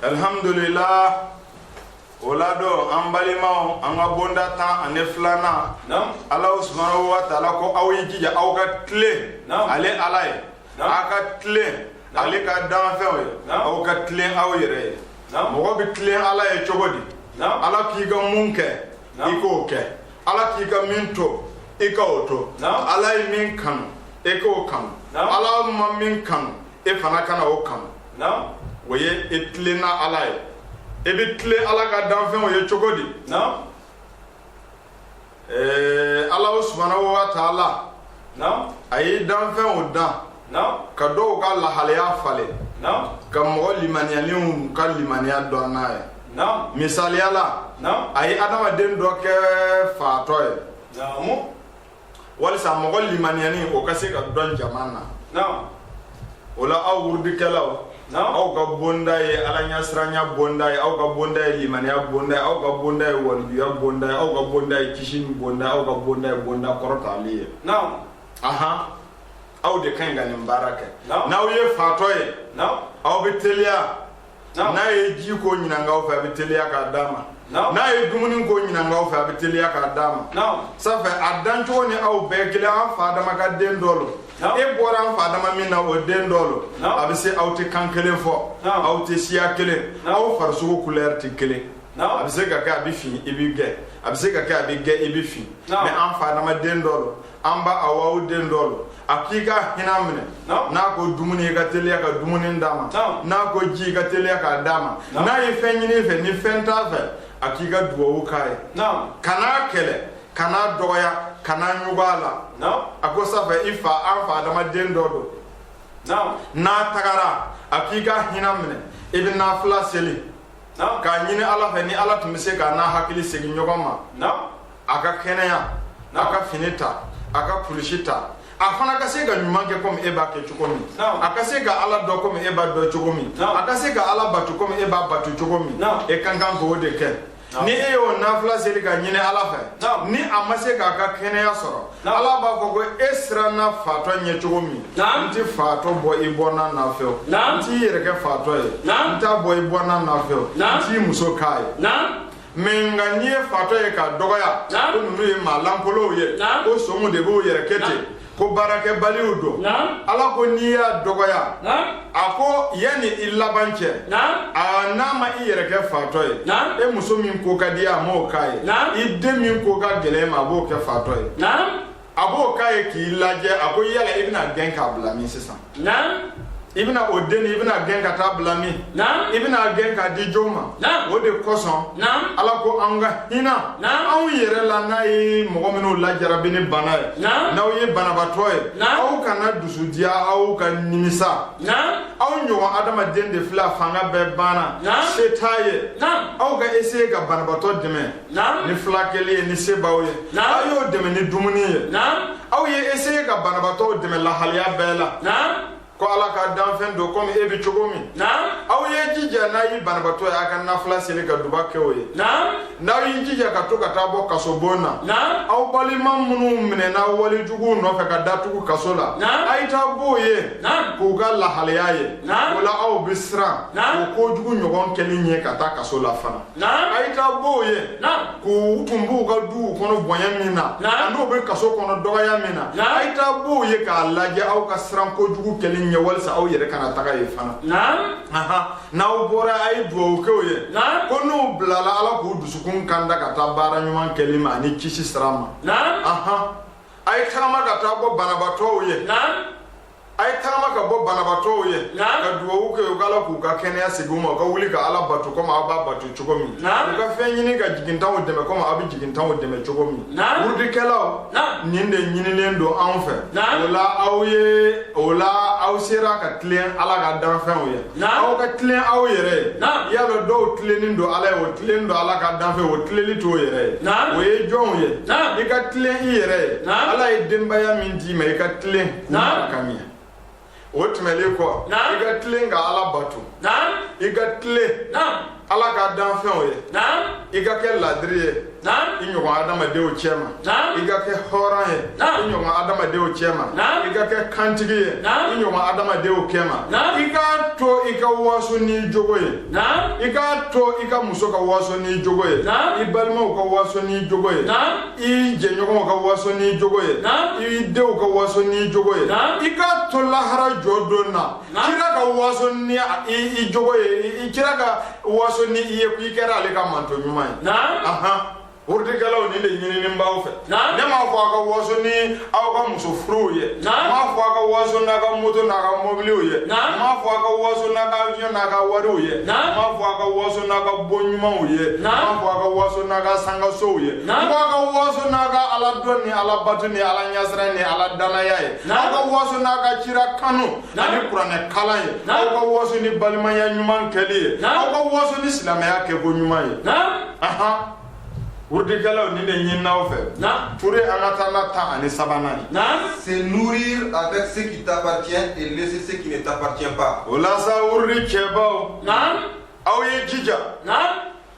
alhamdulillah o la don an balimaw an ka bonda tan ani filanan ala subhanahu wa taala ko aw y'i jija aw ka tilen ale ala ye aw ka tilen ale ka danfɛnw ye aw ka tilen aw yɛrɛ ye mɔgɔ bɛ tilen ala ye cogo di ala k'i ka mun kɛ i k'o kɛ ala k'i ka min to i ka o to ala ye min kanu i k'o kanu ala ma min kanu e fana kana o kanu o ye e tilenna ala ye e bɛ tilen ala ka danfɛnw ye cogo di ala subhanahu wa taala a ye danfɛnw dan ka dɔw ka lahalaya falen ka mɔgɔ limaniyalenw ka limaniya dɔn n'a ye misaliya la a ye adamaden dɔ kɛ fatɔ ye walisa mɔgɔ limaniyalenw ka se ka dɔn jama na naam o la aw wurudikɛlaw naam aw ka bonda ye alaɲasiranya bonda ye aw ka bonda ye limaniya bonda ye aw ka bonda ye walijuya bonda ye aw ka bonda ye kisini bonda ye aw ka bonda ye bonda kɔrɔtalen ye naam ahan aw de ka kan ka nin baara kɛ naam n'aw ye fatɔ ye naam aw bɛ teliya n'a ye ji ko ɲinink'aw fɛ a bɛ teliya k'a d'a ma n'a ye dumuni ko ɲinink'aw fɛ a bɛ teliya k'a d'a ma safɛ a dancogo ni aw bɛɛ kelen an fa adama ka den dɔ lo e bɔra an fa adama min na o den dɔ lo a bɛ se aw tɛ kan kelen fɔ aw tɛ siya kelen aw farisogo kulɛri tɛ kelen a bɛ se ka kɛ a bɛ fin i bɛ gɛ a bɛ se ka kɛ a bɛ gɛ i bɛ fin mɛ an fa adama den dɔ lo an ba awa o den dɔ lo a k'i ka hinɛ minɛ n'a ko dumuni i ka teliya ka dumuni d'a ma n'a ko ji i ka teliya k'a d'a ma n'a ye fɛn ɲin'i fɛ ni fɛn t'a fɛ a k'i ka duwawu k'a ye kan'a kɛlɛ kan'a dɔgɔya kan'a ɲugu a la a ko safɛ i fa an fa adama den dɔ don n'a tagara a k'i ka hinɛ minɛ i bɛ nafila seli k'a ɲini ala fɛ ni ala tun bɛ se k'a n'a hakili segin ɲɔgɔn ma a ka kɛnɛya a ka fini ta a ka kulusi ta a fana ka se ka ɲuman kɛ komi e b'a kɛ cogo min a ka se ka ala dɔn komi e b'a dɔn cogo min a ka se ka ala bato komi e b'a bato cogo min e ka kan k'o de kɛ ni e y'o nafila seli k'a ɲini ala fɛ ni a ma se k'a ka kɛnɛya sɔrɔ ala b'a fɔ ko e siranna fatɔ ɲɛ cogo min n ti fatɔ bɔ i bɔnna na fewu n t'i yɛrɛ kɛ fatɔ ye n t'a bɔ i bɔnna na fewu n t'i muso k'a ye mɛ nka n'i ye fatɔ ye k'a dɔgɔya ko ninnu ye maa lankolow ye ko somu de b'u yɛrɛ kɛ ten ko baarakɛbaliw don ala ko n'i y'a dɔgɔya a ko yanni i laban cɛ aa n'a ma i yɛrɛ kɛ fatɔ ye e muso min ko ka di a m'o k'a ye i den min ko ka gɛlɛn i ma a b'o kɛ fatɔ ye a b'o k'a ye k'i lajɛ a ko yala i bɛna gɛn k'a bila min sisan naam i bɛna o den i bɛna gɛn ka taa bila min naam i bɛna gɛn k'a di jɔn ma naam o de kosɔn naam ala ko an ka hinɛ anw yɛrɛ la n'a ye mɔgɔ minnu lajarabi ni bana ye n'aw ye banabatɔ ye aw kana dusu diya aw ka nimisa aw ɲɔgɔn adamaden de filɛ fanga bɛɛ banna se t'a ye aw ka eseye ka banabatɔ dɛmɛ ni filakɛli ye ni se b'aw ye aw y'o dɛmɛ ni dumuni ye aw ye eseye ka banabatɔw dɛmɛ lahaliya bɛɛ la ko ala ka danfɛn don komi e bɛ cogo min aw ye jija n'a ye banabatɔ ye a ka nafila seli ka duba kɛ o ye n'aw y'i jija ka to ka taa bɔ kasobon na aw balima minnu minɛna wale juguw nɔfɛ ka datugu kaso la a ye taa b'o ye k'u ka lahaliya ye o la aw bɛ siran o kojugu ɲɔgɔn kɛli ɲɛ ka taa kaso la fana a ye taa bɔ u ye k'u tun b'u ka duw kɔnɔ bonya min na n'u bɛ kaso kɔnɔ dɔgɔya min na a ye taa bɔ u ye k'a lajɛ aw ka siran kojugu kɛli ɲɛ walisa aw yɛrɛ kana taga yen fana n'aw bɔra a ye dugawu kɛ u ye ko n'u bilala ala k'u dusukun kanda ka taa baara ɲuman kɛli ma ani kisi sira ma a ye tagama ka taa bɔ banabatɔw ye a ye tagama ka bɔ banabatɔw ye ka dugawu kɛ ko ala k'u ka kɛnɛya segin u ma u ka wuli ka ala bato komi aw b'a bato cogo min u ka fɛn ɲini ka jigintanw dɛmɛ komi aw bɛ jigintanw dɛmɛ cogo min wurudikɛlaw nin de ɲininen don anw fɛ o la aw ye o la aw sera ka tilen ala ka danfɛnw ye aw ka tilen aw yɛrɛ ye y'a lɔn dɔw tilennen don ala ye o tilennen don ala ka danfɛn o tilennen t'o yɛrɛ ye o ye jɔnw ye i ka tilen i yɛrɛ ye ala ye denbaya min d'i ma i ka tilen ka ɲɛ o tɛmɛlen kɔ i ka tilen ka ala bato i ka tilen ala ka danfɛnw ye i ka kɛ ladiri ye i ɲɔgɔn adamadenw cɛ ma i ka kɛ hɔrɔn ye i ɲɔgɔn adamadenw cɛ ma i ka kɛ kantigi ye i ɲɔgɔn adamadenw cɛ ma i k'a to i ka waso n'i jogo ye i k'a to i ka muso ka waso n'i jogo ye i balimaw ka waso n'i jogo ye i jɛɲɔgɔnw ka waso n'i jogo ye i denw ka waso n'i jogo ye i k'a to lahara jɔ don na kira ka waso ni i jogo ye i kira ka waso ni i ye ko i kɛra ale ka manton ɲuman ye ahan wurudikɛlaw nin de ɲininen b'aw fɛ ne m'a fɔ aw ka waso ni aw ka muso furuw ye n m'a fɔ a ka waso n'a ka moto n'a ka mɔbiliw ye n m'a fɔ a ka waso n'a ka avion n'a ka wariw ye n m'a fɔ a ka waso n'a ka bon ɲumanw ye n m'a fɔ a ka waso n'a ka sankasow ye n ko a ka waso n'a ka ala dɔn ni ala bato ni ala ɲasiran ni ala dannaya ye a ka waso n'a ka cira kanu ani kuranɛ kalan ye aw ka waso ni balimaya ɲuman kɛli ye aw ka waso ni silamɛya kɛko ɲuman ye Wurudikɛlaw nin de ɲinina aw fɛ pour an ka taa na tan ani sabanan ye se nourrir avec ce qui t'appartient et laisser ce qui t'appartient pas o la sa wurudi cɛbaw aw ye jija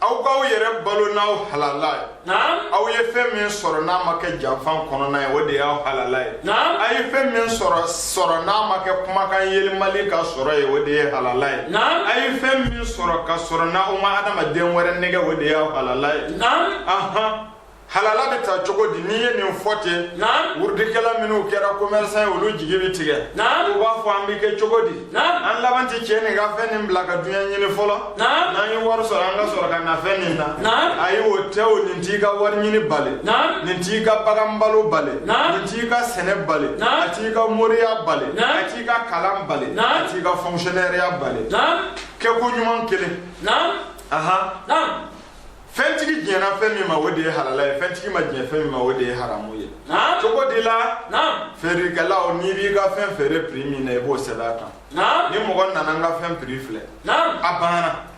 aw k'aw yɛrɛ balo n'aw halala ye aw ye fɛn min sɔrɔ n'a ma kɛ janfan kɔnɔna ye o de y'aw halala ye a ye fɛn min sɔrɔ sɔrɔ n'a ma kɛ kumakan yɛlɛmali ka sɔrɔ ye o de ye halala ye a ye fɛn min sɔrɔ ka sɔrɔ n'aw ma adamaden wɛrɛ nɛgɛ o de ye halala ye halala bɛ taa cogo di n'i ye nin fɔ ten wurudikɛla minnu kɛra commerçant ye olu jigi bɛ tigɛ u b'a fɔ an bɛ kɛ cogo di an laban tɛ cɛ nin ka fɛn nin bila ka duɲɛ ɲini fɔlɔ Naam. n'an ye wari sɔrɔ an ka sɔrɔ ka na fɛn nin na Naam. ayi o tɛ o nin t'i ka wari ɲini bali Naam. nin t'i ka bagan balo bali Naam. nin t'i ka sɛnɛ bali Naam. a t'i ka moriya bali Naam. a t'i ka kalan bali Naam. a t'i ka fonctionnaire-ya bali Naam. kɛko ɲuman kelen Naam. ahan Naam. fɛntigi diɲɛna fɛn min ma o de ye halala ye fɛntigi ma diɲɛ fɛn min ma o de ye haramu ye Naam. cogo di la Naam. feerekɛlaw n'i b'i ka fɛn feere prix min na i b'o sɛbɛn a kan ni mɔgɔ nana n ka fɛn prix filɛ a banna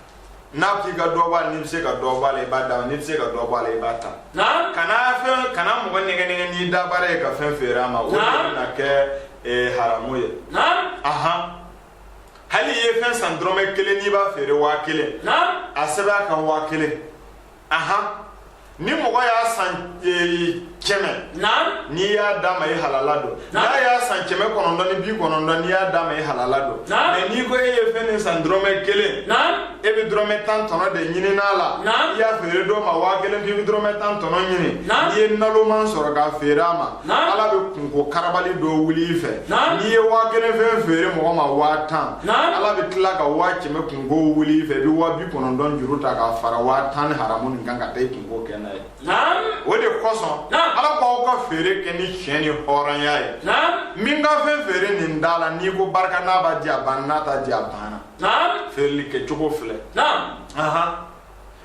n'a k'i ka dɔ b'a la n'i bɛ se ka dɔ b'a la i b'a d'a ma n'i tɛ se ka dɔ b'a la i b'a ta kana fɛn kana mɔgɔ nɛgɛ nɛgɛ n'i da baara ye ka fɛn feere a ma o de bɛna kɛ eh, haramu ye ahan hali i ye fɛn san dɔrɔmɛ kelen n'i b'a feere waa kelen a sɛbɛn a kan waa kelen ni mɔgɔ y'a san e, kɛmɛ n'i y'a d'a ma i halala don n'a y'a san kɛmɛ kɔnɔntɔn ni bi kɔnɔntɔn n'i y'a d'a ma i halala don mais n'i ko e ye fɛn nin san dɔrɔmɛ kelen e bɛ dɔrɔmɛ tan tɔnɔ de ɲini n'a la i y'a feere dɔ ma waa kelen k'i bɛ dɔrɔmɛ tan tɔnɔ ɲini n'i ye naloman sɔrɔ k'a feere a ma ala bɛ kunko karabali dɔ wuli i fɛ n'i ye waa kelen fɛn feere mɔgɔ ma waa tan ala bɛ tila ka waa kɛmɛ kunko wuli i fɛ i bɛ waa bi kɔnɔntɔn juru ta k'a fara waa tan ni haramu nin kan ka taa i kunko kɛ n'a ye o de kosɔn ala k'aw ka feere kɛ ni tiɲɛ ni hɔrɔnya ye min ka fɛn feere nin da la n'i ko barika n'a b'a di a banna n'a t'a di a banna feereli kɛcogo filɛ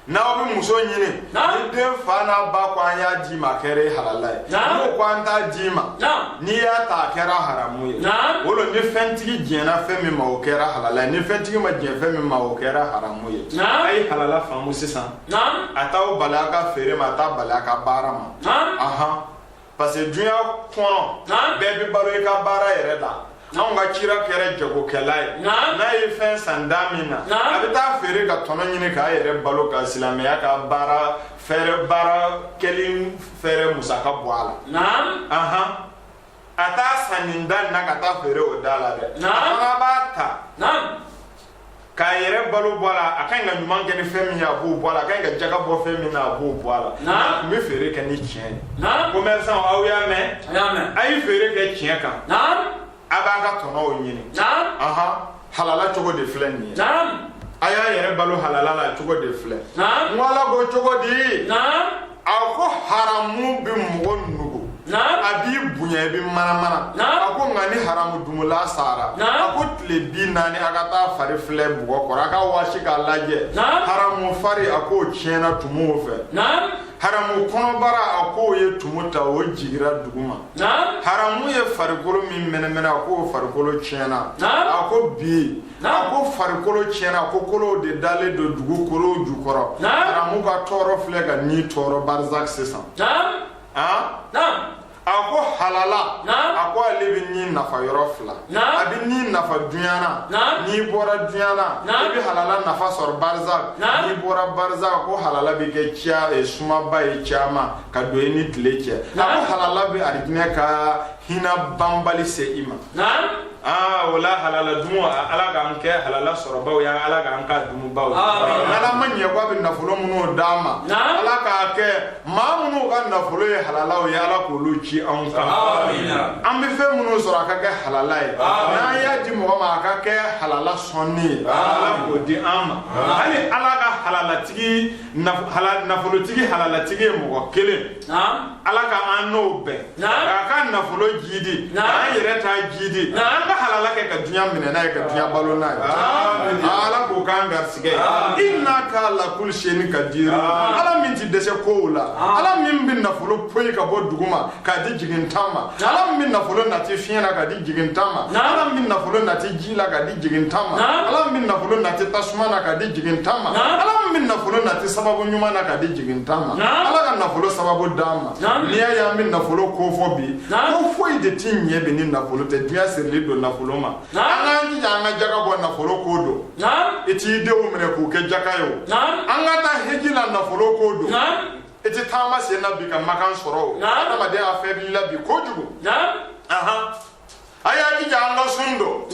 n'aw bɛ muso ɲini ni den fa n'a ba ko an y'a d'i ma a kɛra i halala ye n'u ko an t'a d'i ma n'i y'a ta a kɛra haramu ye o lo ni fɛntigi diɲɛna fɛn min ma o kɛra halala ye ni fɛntigi ma diɲɛ fɛn min ma o kɛra haramu ye a ye halala faamu sisan a t'aw bali a ka feere ma a t'a bali a ka baara ma ahan parce que dunya kɔnɔ bɛɛ bɛ balo i ka baara yɛrɛ la anw ka kira kɛra jagokɛla ye n'a ye fɛn san da min na a bɛ taa feere ka tɔnɔ ɲini k'a yɛrɛ balo ka silamɛya ka baara fɛɛrɛ baara kɛli fɛɛrɛ musaka bɔ a la ahan a t'a san nin da nin na ka taa feere o da la dɛ a fana b'a ta k'a yɛrɛ balo bɔ a la a ka ɲi ka ɲuman kɛ ni fɛn min ye a b'o bɔ a la a ka ɲi ka jaga bɔ fɛn min na a b'o bɔ a la Naam. a tun bɛ feere kɛ ni tiɲɛ ye Naam. commerçant aw y'a mɛn a y'a mɛn a ye feere kɛ tiɲɛ kan naam a b'a ka tɔnɔw ɲini naam aha halala cogo de filɛ nin ye naam a y'a yɛrɛ balo halala la cogo de filɛ naam n ko ala ko cogo di naam a ko haramu bɛ mɔgɔ nugu a b'i bonya i bɛ manamana a ko nka ni haramu dumula sara a ko tile bi naani a ka taa fari filɛ bɔgɔ kɔrɔ a ka waasi k'a lajɛ haramu fari a k'o tiɲɛna tumuw fɛ haramu kɔnɔbara a k'o ye tumu ta o jigira dugu ma haramu ye farikolo min mɛnɛmɛnɛ a k'o farikolo tiɲɛna a ko bi a ko farikolo tiɲɛna a ko kolow de dalen don dugukolo jukɔrɔ haramu ka tɔɔrɔ filɛ ka ni tɔɔrɔ barzak sisan a ko halala a ko ale bɛ ni nafa yɔrɔ fila a bɛ ni nafa dunyana n'i bɔra dunyana i bɛ halala nafa sɔrɔ barzak n'i bɔra barzak ko halala bɛ kɛ ciya eh, sumaba ye ciyama ka don i ni tile cɛ a ko halala bɛ arijinɛ ka hina banbali se i ma aa o la halala dumu a- ala k'an kɛ halala sɔrɔbaaw ye ala k'an k'a dumubaw ye Amin. ala ma ɲɛ ko a bɛ nafolo minnu d'an ma Naam. ala k'a kɛ maa minnu ka nafolo ye halalaw ye ala k'olu ci anw kan Amin. an bɛ fɛn minnu sɔrɔ a ka kɛ halala ye n'an y'a di mɔgɔ ma a ka kɛ halala sɔnni ye ala k'o di an ma hali ala ka halalatigi nafolotigi halalatigi ye mɔgɔ kelen ala ka an n'o bɛn k'a ka nafolo jiidi an yɛrɛ ta jiidi an ka halala kɛ ka dunya minɛ n'a ye ka dunya balo n'a ye ala k'o k'an garisigɛ innaka ala kulli shay'in kadir ala min tɛ dɛsɛ kow la ala min bɛ nafolo poyi ka bɔ dugu ma k'a di jigitan ma ala min bɛ nafolo nati fiɲɛ na k'a di jigitan ma ala min bɛ nafolo nati ji la k'a di jigitan ma ala min bɛ nafolo nati tasuma na k'a di jigitan ma ala min bɛ nafolo nati sababu ɲuman na k'a di jigitan ma ala ka nafolo sababu d'an ma n'i y'a ye an bɛ nafolo ko fɔ bi ko foyi de ti ɲɛ bi ni nafolo tɛ dunya sirilen don nafolo ma an k'an jija an ka jaga bɔ nafolo ko don i t'i denw minɛ k'u kɛ jaka ye o an ka taa heji la nafolo ko don i tɛ taama sen na bi ka makan sɔrɔ o adamadenya fɛbilila bi kojugu a y'a jija an ka sun don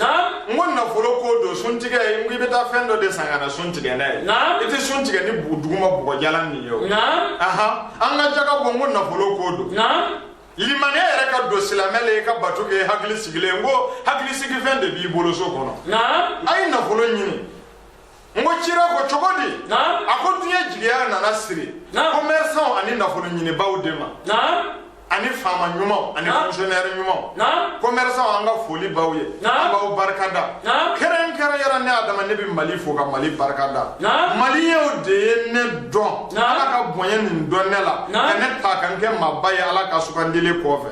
n ko nafolo ko don sun tigɛ n ko i bɛ taa fɛn dɔ de san ka na sun tigɛ n'a ye i tɛ sun tigɛ ni bu- duguma bɔgɔjalan nin ye o an ka jaga bɔ n ko nafolo ko don limaniya yɛrɛ ka don silamɛ la i ka bato kɛ hakili sigilen n ko hakili sigifɛn de b'i bolo so kɔnɔ a ye nafolo ɲini n ko cira ko cogo di a ko duɲa jigiya nana siri commerçant ani nafolo ɲinibaaw de ma ani faama ɲumanw ani fonctionnaire ɲumanw commerçant an ka foli b'aw ye an b'aw barikada kɛrɛnkɛrɛnyara ne adama ne bɛ mali fo ka mali barikada maliyew de ye ne dɔn ala ka bonya nin don ne la ka ne ta ka n kɛ maaba ye ala ka sugandili kɔfɛ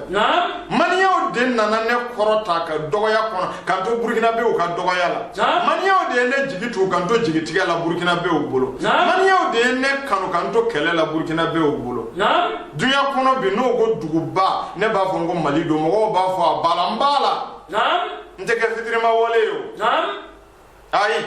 maliyew de nana ne kɔrɔta ka dɔgɔya kɔnɔ ka n to burukinabew ka dɔgɔya la maliyew de ye ne jigi tugu ka n to jigitigɛ la burukinabew bolo maliyew de ye ne kanu ka n to kɛlɛ la burukinabew bolo duɲa kɔnɔ bi n'o ko duguba ne b'a fɔ n ko mali don mɔgɔw b'a fɔ a b'a la n b'a la n tɛ kɛ fitirima wale ye o ayi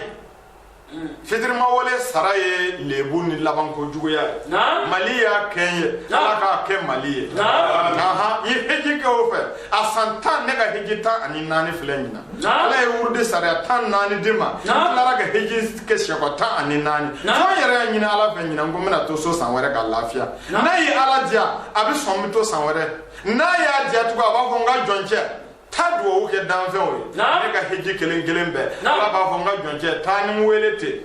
fitirima wale sara ye lebu ni labanko juguya ye mali y'a kɛ n ye ala k'a kɛ mali ye n ye heji kɛ o fɛ a san tan ne ka heji tan ani naani filɛ ɲinan ala ye wurudi sariya tan naani di n ma n tilara ka heji kɛ sɛkɔ tan ani naani fo n yɛrɛ y'a ɲini ala fɛ ɲinan ko n bɛna to so san wɛrɛ ka lafiya n'a ye ala diya a bɛ sɔn n bɛ to san wɛrɛ n'a y'a diya tugun a b'a fɔ n ka jɔncɛ taa dugawu kɛ danfɛnw ye ne ka heji kelen kelen bɛɛ ala b'a fɔ n ka jɔncɛ taa ni n wele ten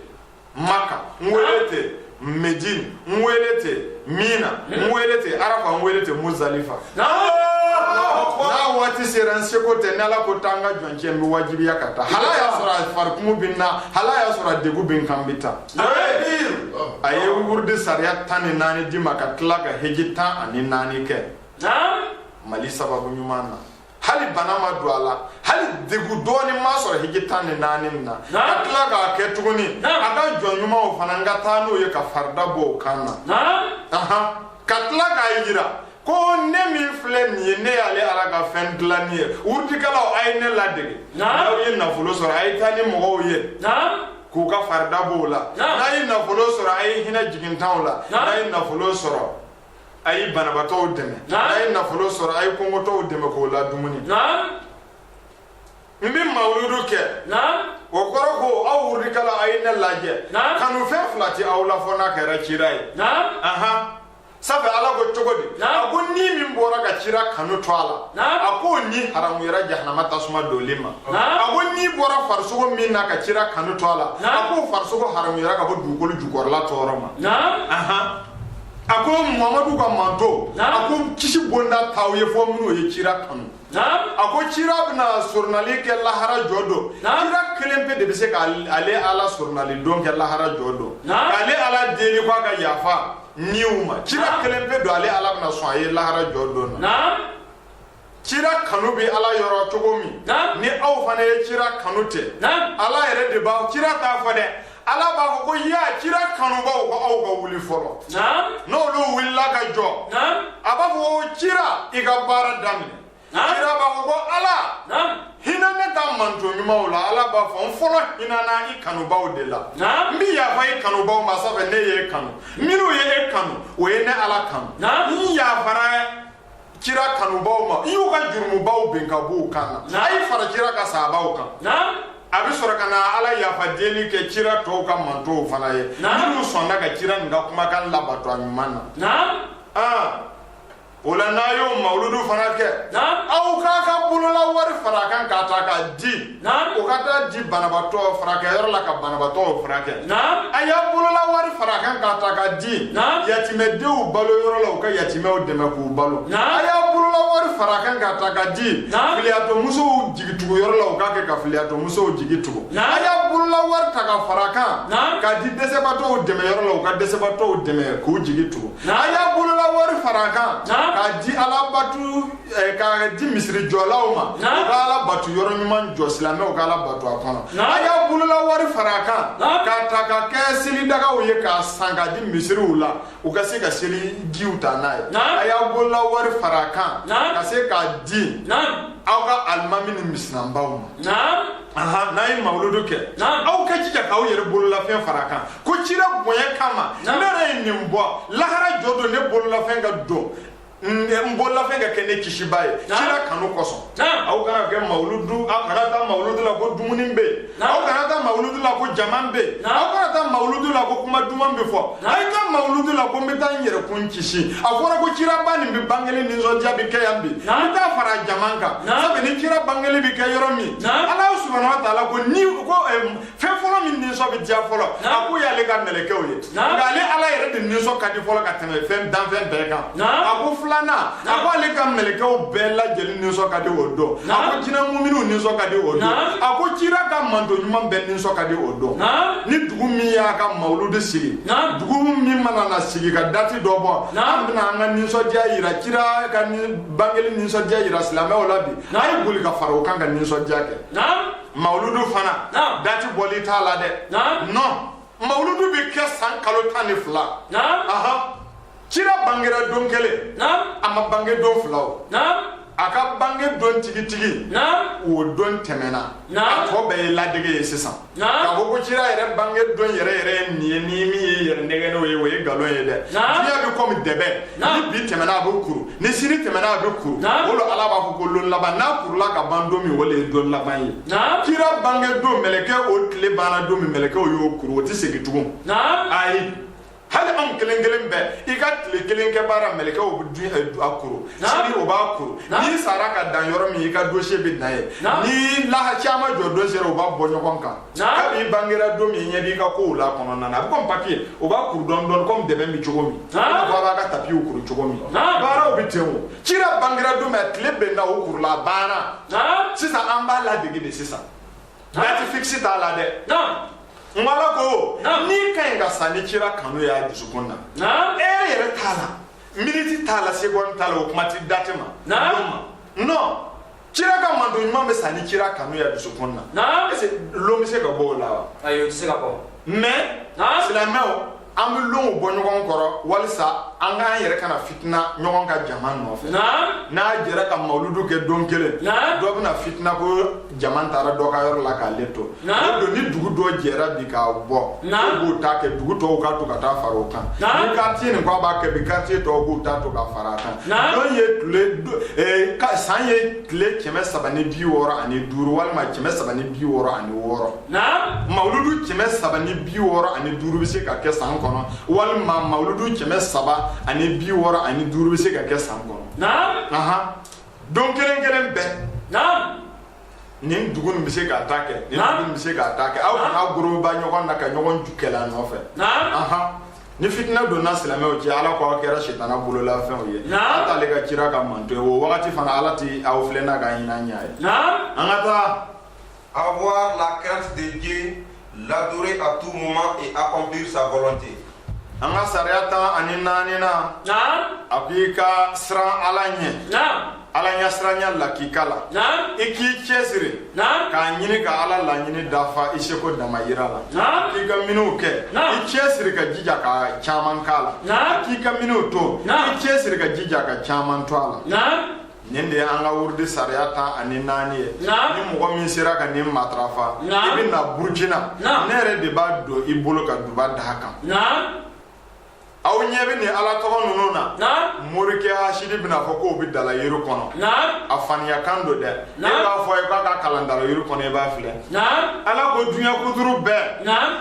maka n wele ten medine n wele ten mina n wele ten arafa n wele ten muzalifa n'a waati sera n seko tɛ ni ala ko taa n ka jɔncɛ n bɛ wajibiya ka taa hal'a y'a sɔrɔ a farikumu bɛ n na hal'a y'a sɔrɔ a degun bɛ n kan n bɛ taa a ye wurudi sariya tan ni naani di n ma ka tila ka heji tan ani naani kɛ mali sababu ɲuman na hali bana ma don a la hali degun dɔɔni ma sɔrɔ hiji tan ni naani na ka tila k'a kɛ tuguni a ka jɔn ɲumanw fana n ka taa n'o ye ka farida bɔ o kan na ka tila k'a yira ko ne min filɛ nin ye ne y'ale ala ka fɛn dilanni ye wurudikɛlaw a ye ne ladege n'aw ye nafolo sɔrɔ a ye taa ni mɔgɔw ye k'u ka farida b'o la n'a ye nafolo sɔrɔ a ye hinɛ jigintanw la n'a ye nafolo sɔrɔ a ye banabatɔw dɛmɛ a ye nafolo sɔrɔ a ye kɔngɔtɔw dɛmɛ k'o ladumuni n bɛ mawuludu kɛ o kɔrɔ ko aw wurudikɛla a ye ne lajɛ kanu fɛn fila tɛ aw la fo n'a kɛra cira ye sabi ala ko cogo di a ko ni min bɔra ka cira kanu to a la a ko o ni haramuyara jahanama tasuma donli ma a ko ni bɔra farisogo min na ka cira kanu to a la a ko o farisogo haramuyara ka bɔ dugukolo jukɔrɔla tɔɔrɔ ma a ko mamadu ka manton a ko kisi bonda t'aw ye fo minnu ye cira kanu a ko cira bɛna soronali kɛ lahara jɔ don cira kelen pe de bɛ se ka ale ala soronali don kɛ lahara jɔ don ale ala deli ko a ka yafa niw ma cira kelen pe don ale ala bɛna sɔn a ye lahara jɔ don na kira kanu bɛ ala yɔrɔ cogo min ni aw fana ye kira kanu tɛ ala yɛrɛ de b'a kira t'a fɔ dɛ ala b'a fɔ ko ya kira kanubaw ko aw ka wuli fɔlɔ n'olu wulila ka jɔ a b'a fɔ ko kira i ka baara daminɛ kira b'a fɔ ko ala hinɛ ne ka manto ɲumanw la ala b'a fɔ n fɔlɔ hinɛna i kanubaw de la n bɛ yafa i kanubaw ma sabu ne y'e kanu minnu ye e kanu o ye ne ala kanu n yafara kira kanubaw ma n y'u ka jurumubaw bin ka b'u kan na a ye fara kira ka sabaw kan a bɛ sɔrɔ ka na ala yafa deli kɛ kira tɔw ka mantow fana ye minnu sɔnna ka kira nin ka kumakan labato a ɲuman na o la n'a y'o mawuludu fana kɛ aw k'a ka bolola wari fara a kan k'a ta k'a di o ka taa di banabatɔ furakɛyɔrɔ la ka banabatɔw furakɛ a y'a bolola wari fara kan k'a ta k'a di yatimɛdenw balo yɔrɔ la u ka yatimɛw dɛmɛ k'u balo a y'a bolola wari fara kan k'a ta k'a di filiyatɔmusow jigitugu yɔrɔ la u k'a kɛ ka filiyatɔmusow jigi tugu a y'a bolola wari ta ka fara kan k'a di dɛsɛbatɔw dɛmɛ yɔrɔ la u ka dɛsɛbatɔw dɛmɛ k'u jigi tugu a y'a bolola wari fara kan k'a di alabatu Eh, k'a di misiri jɔlaw ma u ka alabatu yɔrɔ ɲuman jɔ silamɛw ka ala batu a kɔnɔ a y'a bolola wari fara a kan k'a ta ka kɛ selidagaw ye k'a san k'a di misiriw la u ka se ka selijiw ta n'a ye a y'a bolola wari fara a kan ka se k'a di aw ka alimami ni misiranbaw ma n'a ye mawuludu kɛ aw ka jija k'aw yɛrɛ bololafɛn fara a kan ko cira bonya kama ne yɛrɛ ye nin bɔ lahara jɔ don ne bololafɛn ka don n bololafɛn ka kɛ ne kisiba ye kira kanu kosɔn aw kana kɛ mawuludu aw kana taa mawuludu la ko dumuni bɛ yen aw kana taa mawuludu la ko jama bɛ yen aw kana taa mawuludu la ko kuma duman bɛ fɔ a ye taa mawuludu la ko n bɛ taa n yɛrɛ kun kisi a fɔra ko kiraba nin bɛ bangeli nisɔndiya bɛ kɛ yan bi n bɛ taa fara jama kan sabu ni kira bangeli bɛ kɛ yɔrɔ min ala subahana wa taala ko ni ko fɛn fɔlɔ min nisɔn bɛ diya fɔlɔ a ko y'ale ka mɛlɛkɛw ye nka ale ala yɛrɛ de nisɔn ka di fɔlɔ ka tɛmɛ fɛn danfɛn bɛɛ kan a ko filanan a ko ale ka mɛlɛkɛw bɛɛ lajɛlen nisɔn ka di o don a ko jinɛ muminiw nisɔn ka di o don a ko kira ka manto ɲuman bɛɛ nisɔn ka di o don ni dugu min y'a ka mawuludu sigi dugu min mana na sigi ka dati dɔ bɔ an bɛna an ka nisɔndiya yira kira ka bangeli nisɔndiya yira silamɛw la bi a ye boli ka fara o kan ka nisɔndiya kɛ mawuludu fana dati bɔli t'a la dɛ non mawuludu bɛ kɛ san kalo tan ni fila kira bangera don kelen a ma bange don fila o a ka bange don tigitigi o don tɛmɛna a tɔ bɛɛ ye ladege ye sisan k'a fɔ ko kira yɛrɛ bange don yɛrɛ yɛrɛ ye nin ye ni min y'i yɛrɛ nɛgɛn n'o ye o ye nkalon ye dɛ diɲɛ bɛ kɔmi dɛbɛ ni bi tɛmɛna a bɛ kuru ni sini tɛmɛna a bɛ kuru o lo ala b'a fɔ ko lon laban n'a kurula ka ban don min o le ye don laban ye kira bange don mɛlɛkɛ o tile banna don min mɛlɛkɛw y'o kuru o tɛ segin tugun ayi hali anw kelen kelen bɛɛ i ka tile kelen kɛ baara mɛlɛkɛw bɛ dun eh, a kuru sini o b'a kuru n'i sara ka dan yɔrɔ min i ka dossier bɛ dan yen ni lahara ciyama jɔ don sera o b'a bɔ ɲɔgɔn kan kab'i bangera don min i ɲɛ b'i ka kow la kɔnɔna na a bɛ kɔmi papiye o b'a kuru dɔɔni dɔɔni kɔmi dɛbɛn bɛ cogo min i n'a fɔ a b'a ka tapiw kuru cogo min baaraw bɛ ten o cira bangera don min a tile benna o kurula a banna sisan an b'a ladege de sisan dati fikisi t'a la dɛ n ko ala ko n'i ka ɲi ka sa ni cira kanu ye a dusukun na e lɛrɛ t'a la miniti t'a la segɔni t'a la o kuma ti dati ma non kira ka manto ɲuman bɛ sa ni kira kanu ya dusukun na est ce que lon bɛ se ka bɔ o la wa ayi o tɛ se ka bɔ mais silamɛw an bɛ lonw bɔ ɲɔgɔn kɔrɔ walisa an k'an yɛrɛ kana fitina ɲɔgɔn ka jama nɔfɛ n'a jɛra ka mawuludu kɛ don kelen dɔ bɛna fitina ko jama taara dɔ ka yɔrɔ la k'ale to Naamu, o don ni dugu dɔ jɛra bi k'a bɔ, naamu, k'u b'o ta kɛ dugu tɔw ka to ka taa fara o kan, naamu, ni quartier nin k'a b'a kɛ bi quartier tɔw b'u ta to ka fara a kan, naamu, don ye tile do- eh, ka- san ye tile kɛmɛ saba ni bi wɔɔrɔ ani duuru walima kɛmɛ saba ni bi wɔɔrɔ ani wɔɔrɔ naamu, mawuludu kɛmɛ saba ni bi wɔɔrɔ ani duuru bɛ se ka kɛ san kɔnɔ walima mawuludu kɛmɛ saba ani bi wɔɔrɔ ani duuru bɛ se ka kɛ san kɔnɔ naamu, ahan don kelen kelen bɛɛ naamu, nin dugu nin bɛ se k'a ta kɛ nin dugu nin bɛ se k'a ta kɛ aw kana goroba ɲɔgɔn na ka ɲɔgɔn ju kɛlɛ a nɔfɛ ni fitina donna silamɛw cɛ ala ko aw kɛra sitana bololafɛnw ye ala t'ale ka kira ka manto ye o wagati fana ala ti aw filɛ n'a ka hinɛ ɲɛ ye an ka taa avoir la crainte de Dieu l'adorer à tout moment et accomplir sa volonté. an ka sariya tan ani naani na a ko i ka siran ala ɲɛ ala ɲasiranya lakika la i k'i cɛsiri k'a ɲini ka ala laɲini dafa i seko damayira la k'i ka miniw kɛ i cɛsiri ka jija ka caman k'a la k'i ka miniw to i cɛsiri ka jija ka caman to a la nin de an ka wurudi sariya tan ani naani ye ni mɔgɔ min sera ka nin matarafa i bɛ na burukina ne yɛrɛ de b'a don i bolo ka duba d'a kan aw ɲɛ bɛ nin ala tɔgɔ ninnu na morikɛ hasidi bɛn'a fɔ k'o bɛ dalayiri kɔnɔ a faniya kan don dɛ e b'a fɔ ye k'a k'a kalan dalayiri kɔnɔ i b'a filɛ ala ko dunuya kuturu bɛɛ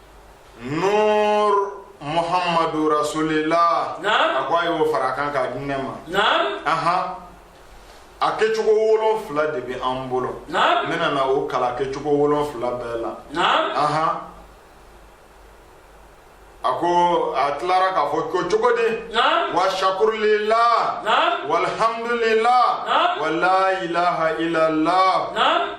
Nur muhamadu rasulilahi a ko a y'o fara kan k'a di ne ma ahan a kɛcogo wolonfila de bɛ an bolo n bɛna na o kala kɛcogo wolonfila bɛɛ la ahan a ko a tilara k'a fɔ ko cogodi wa sukurulilahi walihamudulilahi wa la ilaha ila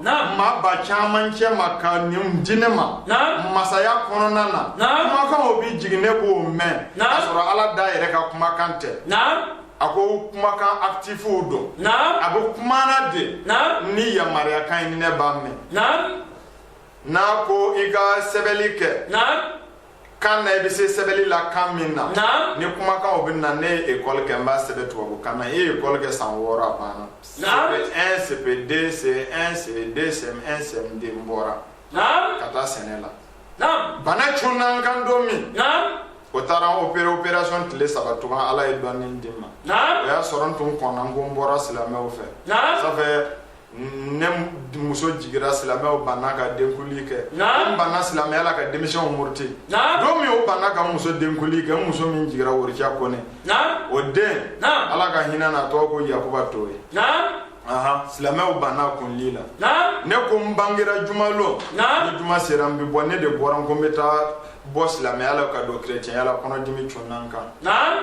maaba caman cɛma ka nin di ne ma masaya kɔnɔna na kumakanw bɛ jigin ne b'o mɛn k'a sɔrɔ ala da yɛrɛ ka kumakan tɛ a ko kumakan atifu don a bɛ kuma na de ni yamaruyakan ye ne b'a mɛn n'a ko i ka sɛbɛnni kɛ kan na i bɛ se sɛbɛnni la kan min na ni kumakanw bɛ na ne ye ekɔli kɛ n b'a sɛbɛn tubabukan na e ye ekɔli kɛ san wɔɔrɔ a banna cp1 cp2 ce1 ce2 cm1 cm2 n bɔra ka taa sɛnɛ la bana cunna n kan don min o taara n opere operation tile saba tugun ala ye dɔnni di n ma o y'a sɔrɔ n tun kɔnna n ko n bɔra silamɛw fɛ ça fait ne muso jigira silamɛw banna ka denkuli kɛ n banna silamɛya la ka denmisɛnw muruti don min o banna ka muso denkuli kɛ n muso min jigira worija kɔnɛ o den ala ka hinɛ na tɔgɔ ko yakuba toye silamɛw banna kunli la ne ko n bangera jumalon ni juma sera n bɛ bɔ ne de bɔra n ko n bɛ taa bɔ silamɛya la ka don kerecɛnya la kɔnɔdimi cunna n kan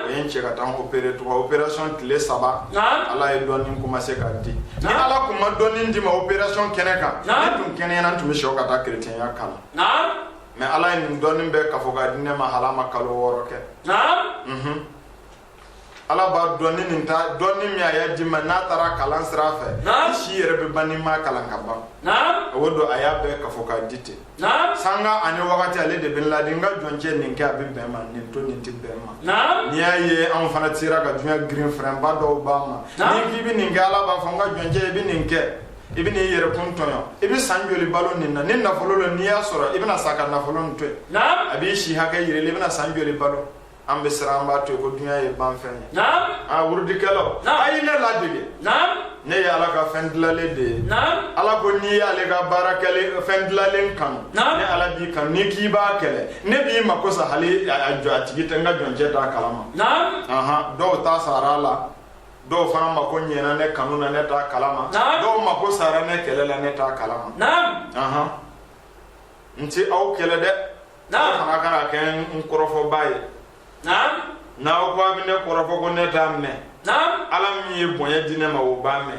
o ye n cɛ ka taa n opere tugun operasɔn tile saba ala ye dɔnni commencé ka di ni ala kun ma dɔnni di n ma operasɔn kɛnɛ kan ne tun kɛnɛyana n tun bɛ sɔn ka taa kerecɛnya kalan mais ala ye nin dɔnni bɛɛ kafo ka di ne ma hali a ma kalo wɔɔrɔ kɛ ala b'a dɔn ni nin ta dɔnni min a y'a di n ma n'a taara kalan sira fɛ i si yɛrɛ bɛ ban n'i ma kalan ka ban o don a y'a bɛɛ kafo k'a di ten sanga ani wagati ale de bɛ n ladi n ka jɔncɛ nin kɛ a bɛ bɛn ma nin to nin tɛ bɛn ma n'i y'a ye anw fana sera ka duɲa girin fɛrɛnba dɔw b'a ma n'i k'i bɛ nin kɛ ala b'a fɔ n ka jɔncɛ i bɛ nin kɛ i bɛn'i yɛrɛkun tɔɲɔ i bɛ san joli balo nin na ni nafolo lo n'i y'a sɔrɔ i bɛna sa ka nafolo nin to yen a b'i si hakɛ yirili i bɛna san joli balo an bɛ siran an b'a to yen ko dunya ye banfɛn ye naam a wurudikɛlaw a ye ne ladege naam ne ye ala ka fɛn dilalen de ye naam ala ko n'i y'ale ka baara kɛlen fɛn dilalen kanu naam ne ala b'i kanu n'i k'i b'a kɛlɛ ne b'i mako sa hali a jɔ a tigi tɛ n ka jɔncɛ t'a kalama naam ahan dɔw ta sara a la dɔw fana mako ɲɛna ne kanu na ne t'a kalama naam dɔw mako sara ne kɛlɛ la ne t'a kalama naam ahan n tɛ aw kɛlɛ dɛ aw fana kana kɛ n kɔrɔfɔba ye n'aw ko a bɛ ne kɔrɔfɔ ko ne t'a mɛn ala min ye bonya di ne ma o b'a mɛn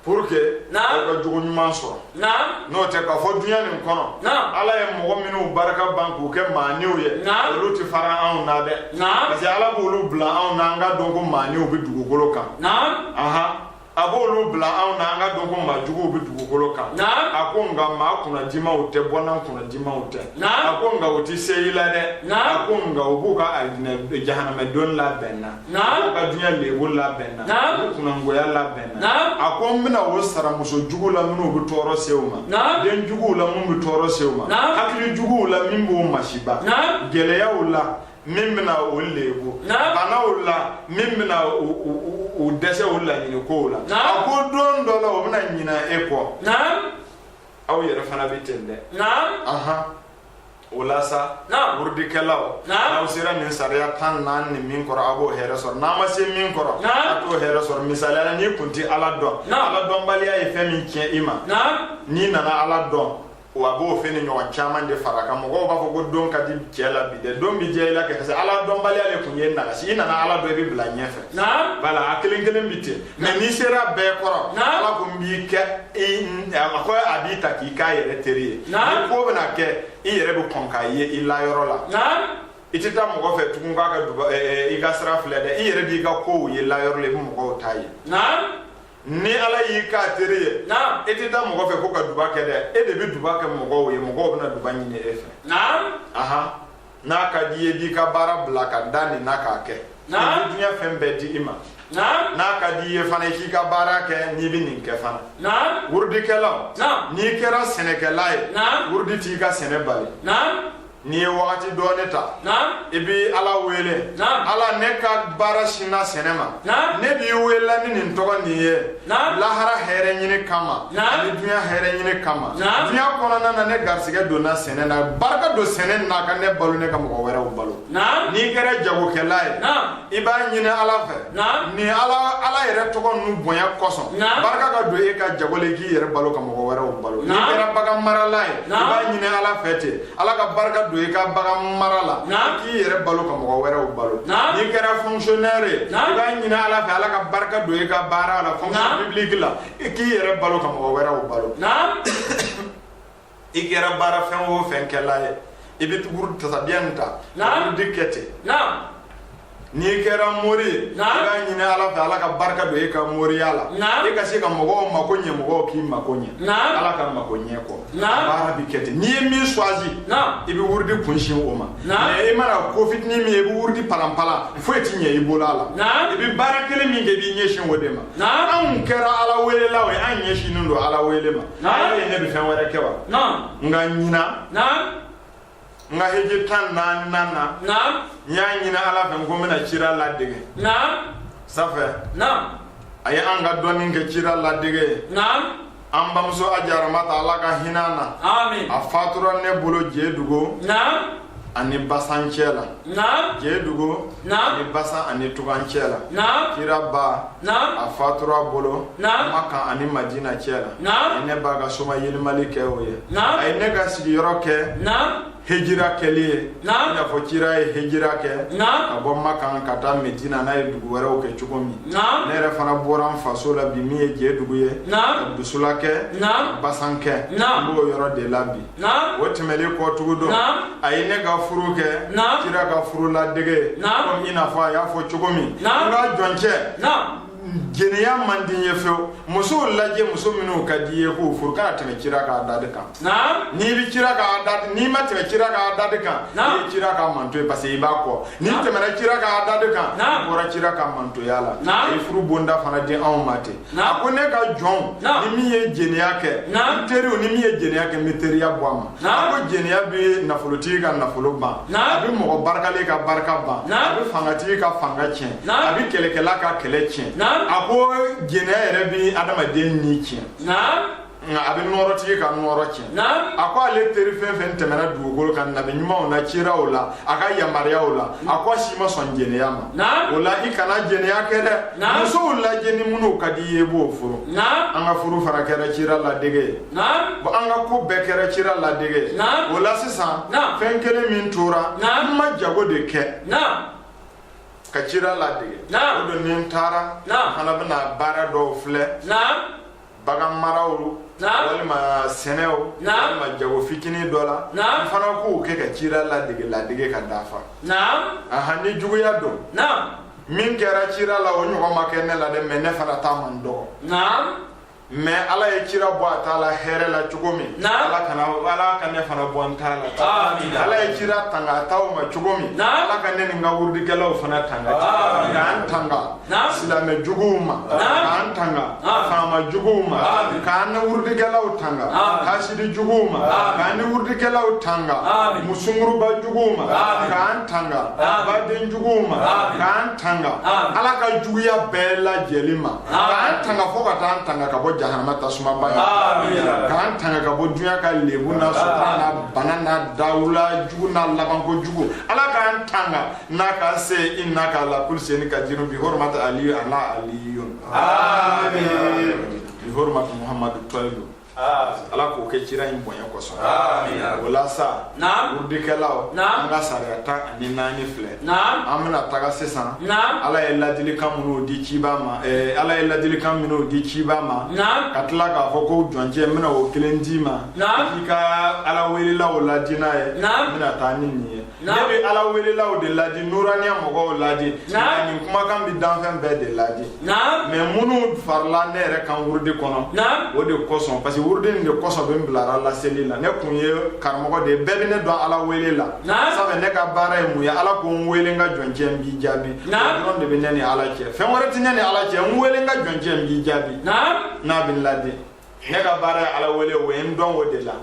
pour que aw ka jogo ɲuman sɔrɔ n'o tɛ k'a fɔ dunya nin kɔnɔ ala ye mɔgɔ minnu barika ban k'u kɛ maaninw ye olu tɛ fara anw na dɛ parce que ala b'olu bila anw na an ka dɔn ko maaninw bɛ dugukolo kan a b'olu bila anw na an ka dɔn ko maa juguw bɛ dugukolo kan a ko nka maa kunnadimaw tɛ bɔnna kunnadimaw tɛ a ko nka u tɛ se i la dɛ a ko nka u b'u ka jahanamɛdon labɛn na u b'u ka duɲa lebu labɛn na u b'u kunnangoya labɛn na a ko n bɛna o sara muso juguw la minnu bɛ tɔɔrɔ se u ma den juguw la minnu bɛ tɔɔrɔ se u ma hakili juguw la min b'u masiba gɛlɛya u la min bɛna o lebu bana o la min bɛna u dɛsɛ u laɲini kow la a ko don dɔ la o bɛna ɲina e kɔ aw yɛrɛ fana bɛ ten dɛ o la sa wurudikɛlaw n'aw sera nin sariya tan naani nin min kɔrɔ a b'o hɛrɛ sɔrɔ n'a ma se min kɔrɔ a t'o hɛrɛ sɔrɔ misaliya la n'i kun tɛ ala dɔn ala dɔnbaliya ye fɛn min tiɲɛ i ma n'i nana ala dɔn wa a b'o fɛn nin ɲɔgɔn caman de fara a kan mɔgɔw b'a fɔ ko don ka di cɛɛ la bi dɛ don bi diya i la kɛ parce que ala dɔnbaliya le kun y'i nagasi i nana ala dɔn i bɛ bila ɲɛfɛ voilà a kelen kelen bi ten mais n'i sera bɛɛ kɔrɔ ala ko n b'i kɛ a ko a b'i ta k'i k'a yɛrɛ teri ye ni ko bɛna kɛ i yɛrɛ bɛ kɔn k'a ye i layɔrɔ la i tɛ taa mɔgɔ fɛ tugun k'a ka i ka sira filɛ dɛ i yɛrɛ b'i ka kow ye layɔrɔ la i bɛ mɔgɔw ta ye ni ala y'i k'a teri ye e tɛ taa mɔgɔ fɛ ko ka duba kɛ dɛ e de bɛ duba kɛ mɔgɔw ye mɔgɔw bɛna duba ɲini e fɛ aha n'a ka di i ye b'i ka baara bila ka da nin na k'a kɛ duɲa fɛn bɛɛ di i ma n'a ka di i ye fana i k'i ka baara kɛ n'i bɛ nin kɛ fana wurudikɛla n'i kɛra sɛnɛkɛla ye wurudi t'i ka sɛnɛ bali n'i ye wagati dɔɔni ta i b'i ala wele ala ne ka baara sinna sɛnɛ ma ne b'i wele la ni nin tɔgɔ nin ye lahara hɛrɛ ɲini kama ani duɲa hɛrɛ ɲini kama duɲa kɔnɔna na ne garisigɛ donna sɛnɛ na barika don sɛnɛ na ka ne balo ne ka mɔgɔ wɛrɛw balo n'i kɛra jagokɛla ye i b'a ɲini ala fɛ ni ala yɛrɛ tɔgɔ nu bonya kɔsɔn barika ka don e ka jago la i k'i yɛrɛ balo ka mɔgɔ wɛrɛw balo n'i kɛra bagan marala ye i b'a ɲini ala fɛ ten ala ka barika don i ka bagan mara la k'i yɛrɛ balo ka mɔgɔ wɛrɛw balo n'i kɛra fonctionnaire ye i b'a ɲini ala fɛ ala ka barika don i ka baara la fonction publique la k'i yɛrɛ balo ka mɔgɔ wɛrɛw balo i kɛra baara fɛn o fɛn kɛla ye i bɛ tukuru tasabiya nin ta wurudi kɛ ten n'i kɛra mori ye i b'a ɲini ala fɛ ala ka barika don e ka moriya la e ka se ka mɔgɔw mako ɲɛ mɔgɔw k'i mako ɲɛ ala ka mako ɲɛ kɔ baara bi kɛ ten n'i ye min choisi i bɛ wurudi kunsin o ma mais i mana ko fitinin min ye i bɛ wurudi palanpalan foyi ti ɲɛ i bolo a la i bɛ baara kelen min kɛ i b'i ɲɛsin o de ma anw kɛra ala welelaw ye an ɲɛsinnen don ala wele ma naam ne bɛ fɛn wɛrɛ kɛ wa naam n ka ɲinan naam n ka heji tannan na naam n y'a ɲini ala fɛ n ko n bɛna cira ladege naam ça fait naam a ye an ka dɔɔnin kɛ cira ladege naam an bamuso aja ramata ala ka hinɛ na a fatura ne bolo jedugu ani basan cɛ la jedugu ani basan ani tugan cɛ la kira ba a fatura a bolo makan ani madiina cɛ la a ye ne ba ka somayɛlɛmali kɛ o ye a ye ne ka sigiyɔrɔ kɛ hejira kɛli ye i n'a fɔ cira ye hejira kɛ ka bɔ makan ka taa medina n'a ye dugu wɛrɛw kɛ cogo min ne yɛrɛ fana bɔra n faso la bi min ye jedugu ye dusula kɛ basan kɛ b'o yɔrɔ de la bi o tɛmɛlen kɔ tugu dɔ a ye ne ka furu kɛ kira ka furu ladege ko i n'a fɔ a y'a fɔ cogo min n ka jɔncɛ jɛnɛya man di n ye fɛw musow lajɛ muso minnu ka di i ye k'o furu kana tɛmɛ kira ka da de kan n'i bɛ kira ka da n'i ma tɛmɛ kira ka da de kan i ye kira ka manto ye parce que i b'a kɔ n'i tɛmɛna kira ka da de kan i bɔra kira ka mantoya la a ye furu bonda fana di anw ma ten a ko ne ka jɔnw ni min ye jeniya kɛ n teriw ni min ye jeniya kɛ n bɛ teriya bɔ a ma a ko jeniya bɛ nafolotigi ka nafolo ban a bɛ mɔgɔ barikalen ka barika ban a bɛ fangatigi ka fanga tiɲɛ a bɛ kɛlɛkɛla ka kɛlɛ tiɲɛ a ko jeniya yɛrɛ bɛ adamaden ni tiɲɛ nka a bɛ nɔɔrɔtigi ka nɔɔrɔ tiɲɛ Naam. a ko ale teri fɛn fɛn tɛmɛna dugukolo kan nabi ɲumanw na ciraw la a ka yamaruyaw la a ko a si ma sɔn jɛnɛya ma Naam. o la i kana jɛnɛya kɛ dɛ Naam. musow lajɛ ni minnu ka di i ye i b'o furu Naam. an ka furu fana kɛra cira ladege ye Naam. Bon, an ka ko bɛɛ kɛra cira ladege ye Naam. o la sisan Naam. fɛn kelen min tora Naam. n ma jago de kɛ Naam. ka cira ladege Naam. o don ni n taara Naam. fana bɛna baara dɔw filɛ Naam. baganmaraw walima sɛnɛw walima jago fitinin dɔ la n fana k'u kɛ ka cira ladege ladege ka dafa aha ni juguya don min kɛra cira la o ɲɔgɔn ma kɛ ne la dɛ mais ne fana ta man dɔgɔ mais ala ye cira bɔ a ta la hɛrɛ la cogo min ala kana ala ka ne fana bɔ n ta la ala ye cira tanga a taw ma cogo min ala ka ne ni n ka wurudikɛlaw fana tanga k'an tanga silamɛ juguw ma k'an tanga faama juguw ma k'an ni wurudikɛlaw tanga hasidi juguw ma k'an ni wurudikɛlaw tanga musunguruba juguw ma k'an tanga baden juguw ma k'an tanga ala ka juguya bɛɛ lajɛlen ma k'an tanga fo ka taa an tanga ka bɔ jahanama tasuma ba k'an tanga ka bɔ dunya ka lebu n'a sɔrɔ n'a bana n'a dawula jugu n'a labanko jugu ala k'an tanga n'a ka se innaka la kuli seyin kadiru bi hormat aliyu ana aliyun amin bi hormat muhammadu tɔyilu ala k'o kɛ cira in bonya kosɔn o la sa wurudikɛlaw an ka sariya tan ani naani filɛ an bɛna taga sisan ala ye ladilikan minnu di ciba ma eh, ala ye ladilikan minnu di ciba ma ka tila k'a fɔ ko jɔncɛ n bɛna o kelen d'i ma i ka ala welelaw ladi n'a ye n bɛna taa ni nin ye ne bɛ ala welelaw de ladi nuraniya mɔgɔw ladi nka nin kumakan bɛ danfɛn bɛɛ de ladi mais minnu farila ne yɛrɛ kan wurudi kɔnɔ o de kosɔn parce que wurudi nin de kosɔn bi n bilara laseli la ne kun ye karamɔgɔ de ye bɛɛ bɛ ne dɔn ala wele la sabu ne ka baara ye mun ye ala ko n wele n ka jɔncɛ n b'i jaabi o dɔrɔn de bɛ ne ni ala cɛ fɛn wɛrɛ tɛ ne ni ala cɛ n wele n ka jɔncɛ n b'i jaabi n'a bɛ n ladi ne ka baara ye ala wele o ye n dɔn o de la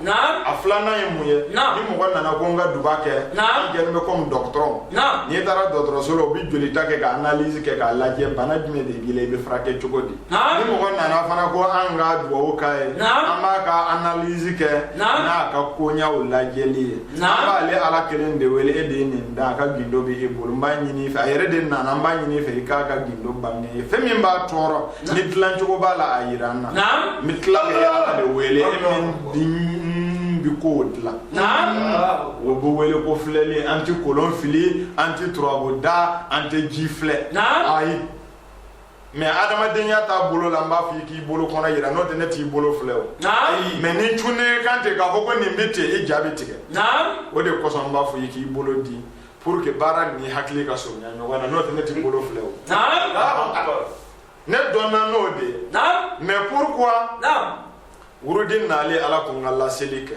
a filanan ye mun ye ni mɔgɔ nana ko n ka duba kɛ i kɛlen bɛ komi dɔgɔtɔrɔ n'i taara dɔgɔtɔrɔso la u bɛ jolita kɛ ka analyse kɛ k'a lajɛ bana jumɛn de b'i la i bɛ furakɛ cogo di ni mɔgɔ nana fana ko an ka dugawu k'a ye an b'a ka analyse kɛ n'a ka koɲaw lajɛli ye an b'ale ala kelen de wele e de ye nin da a ka gindo bɛ e bolo n b'a ɲini i fɛ a yɛrɛ de nana n b'a ɲini i fɛ i k'a ka gindo bange n ye fɛn min b'a tɔɔrɔ ni dilancogo b'a la a yira n na n bɛ tila ka ala de wele min bi ko dilan o bɛ wele ko filɛli an tɛ kolon fili an tɛ turabu da an tɛ ji filɛ ayi mais adamadenya taabolo la n b'a fɔ i k'i bolo kɔnɔ yira n'o tɛ ne t'i bolo filɛ o mais ni n cunna i kan ten k'a fɔ ko nin bɛ ten e ja bɛ tigɛ o de kosɔn n b'a fɔ i k'i bolo di pour que baara ni hakili ka surunya ɲɔgɔn na n'o tɛ ne t'i bolo filɛ o ne dɔnna n'o de ye mais pourquoi wurudi nalen ala ko n ka laseli kɛ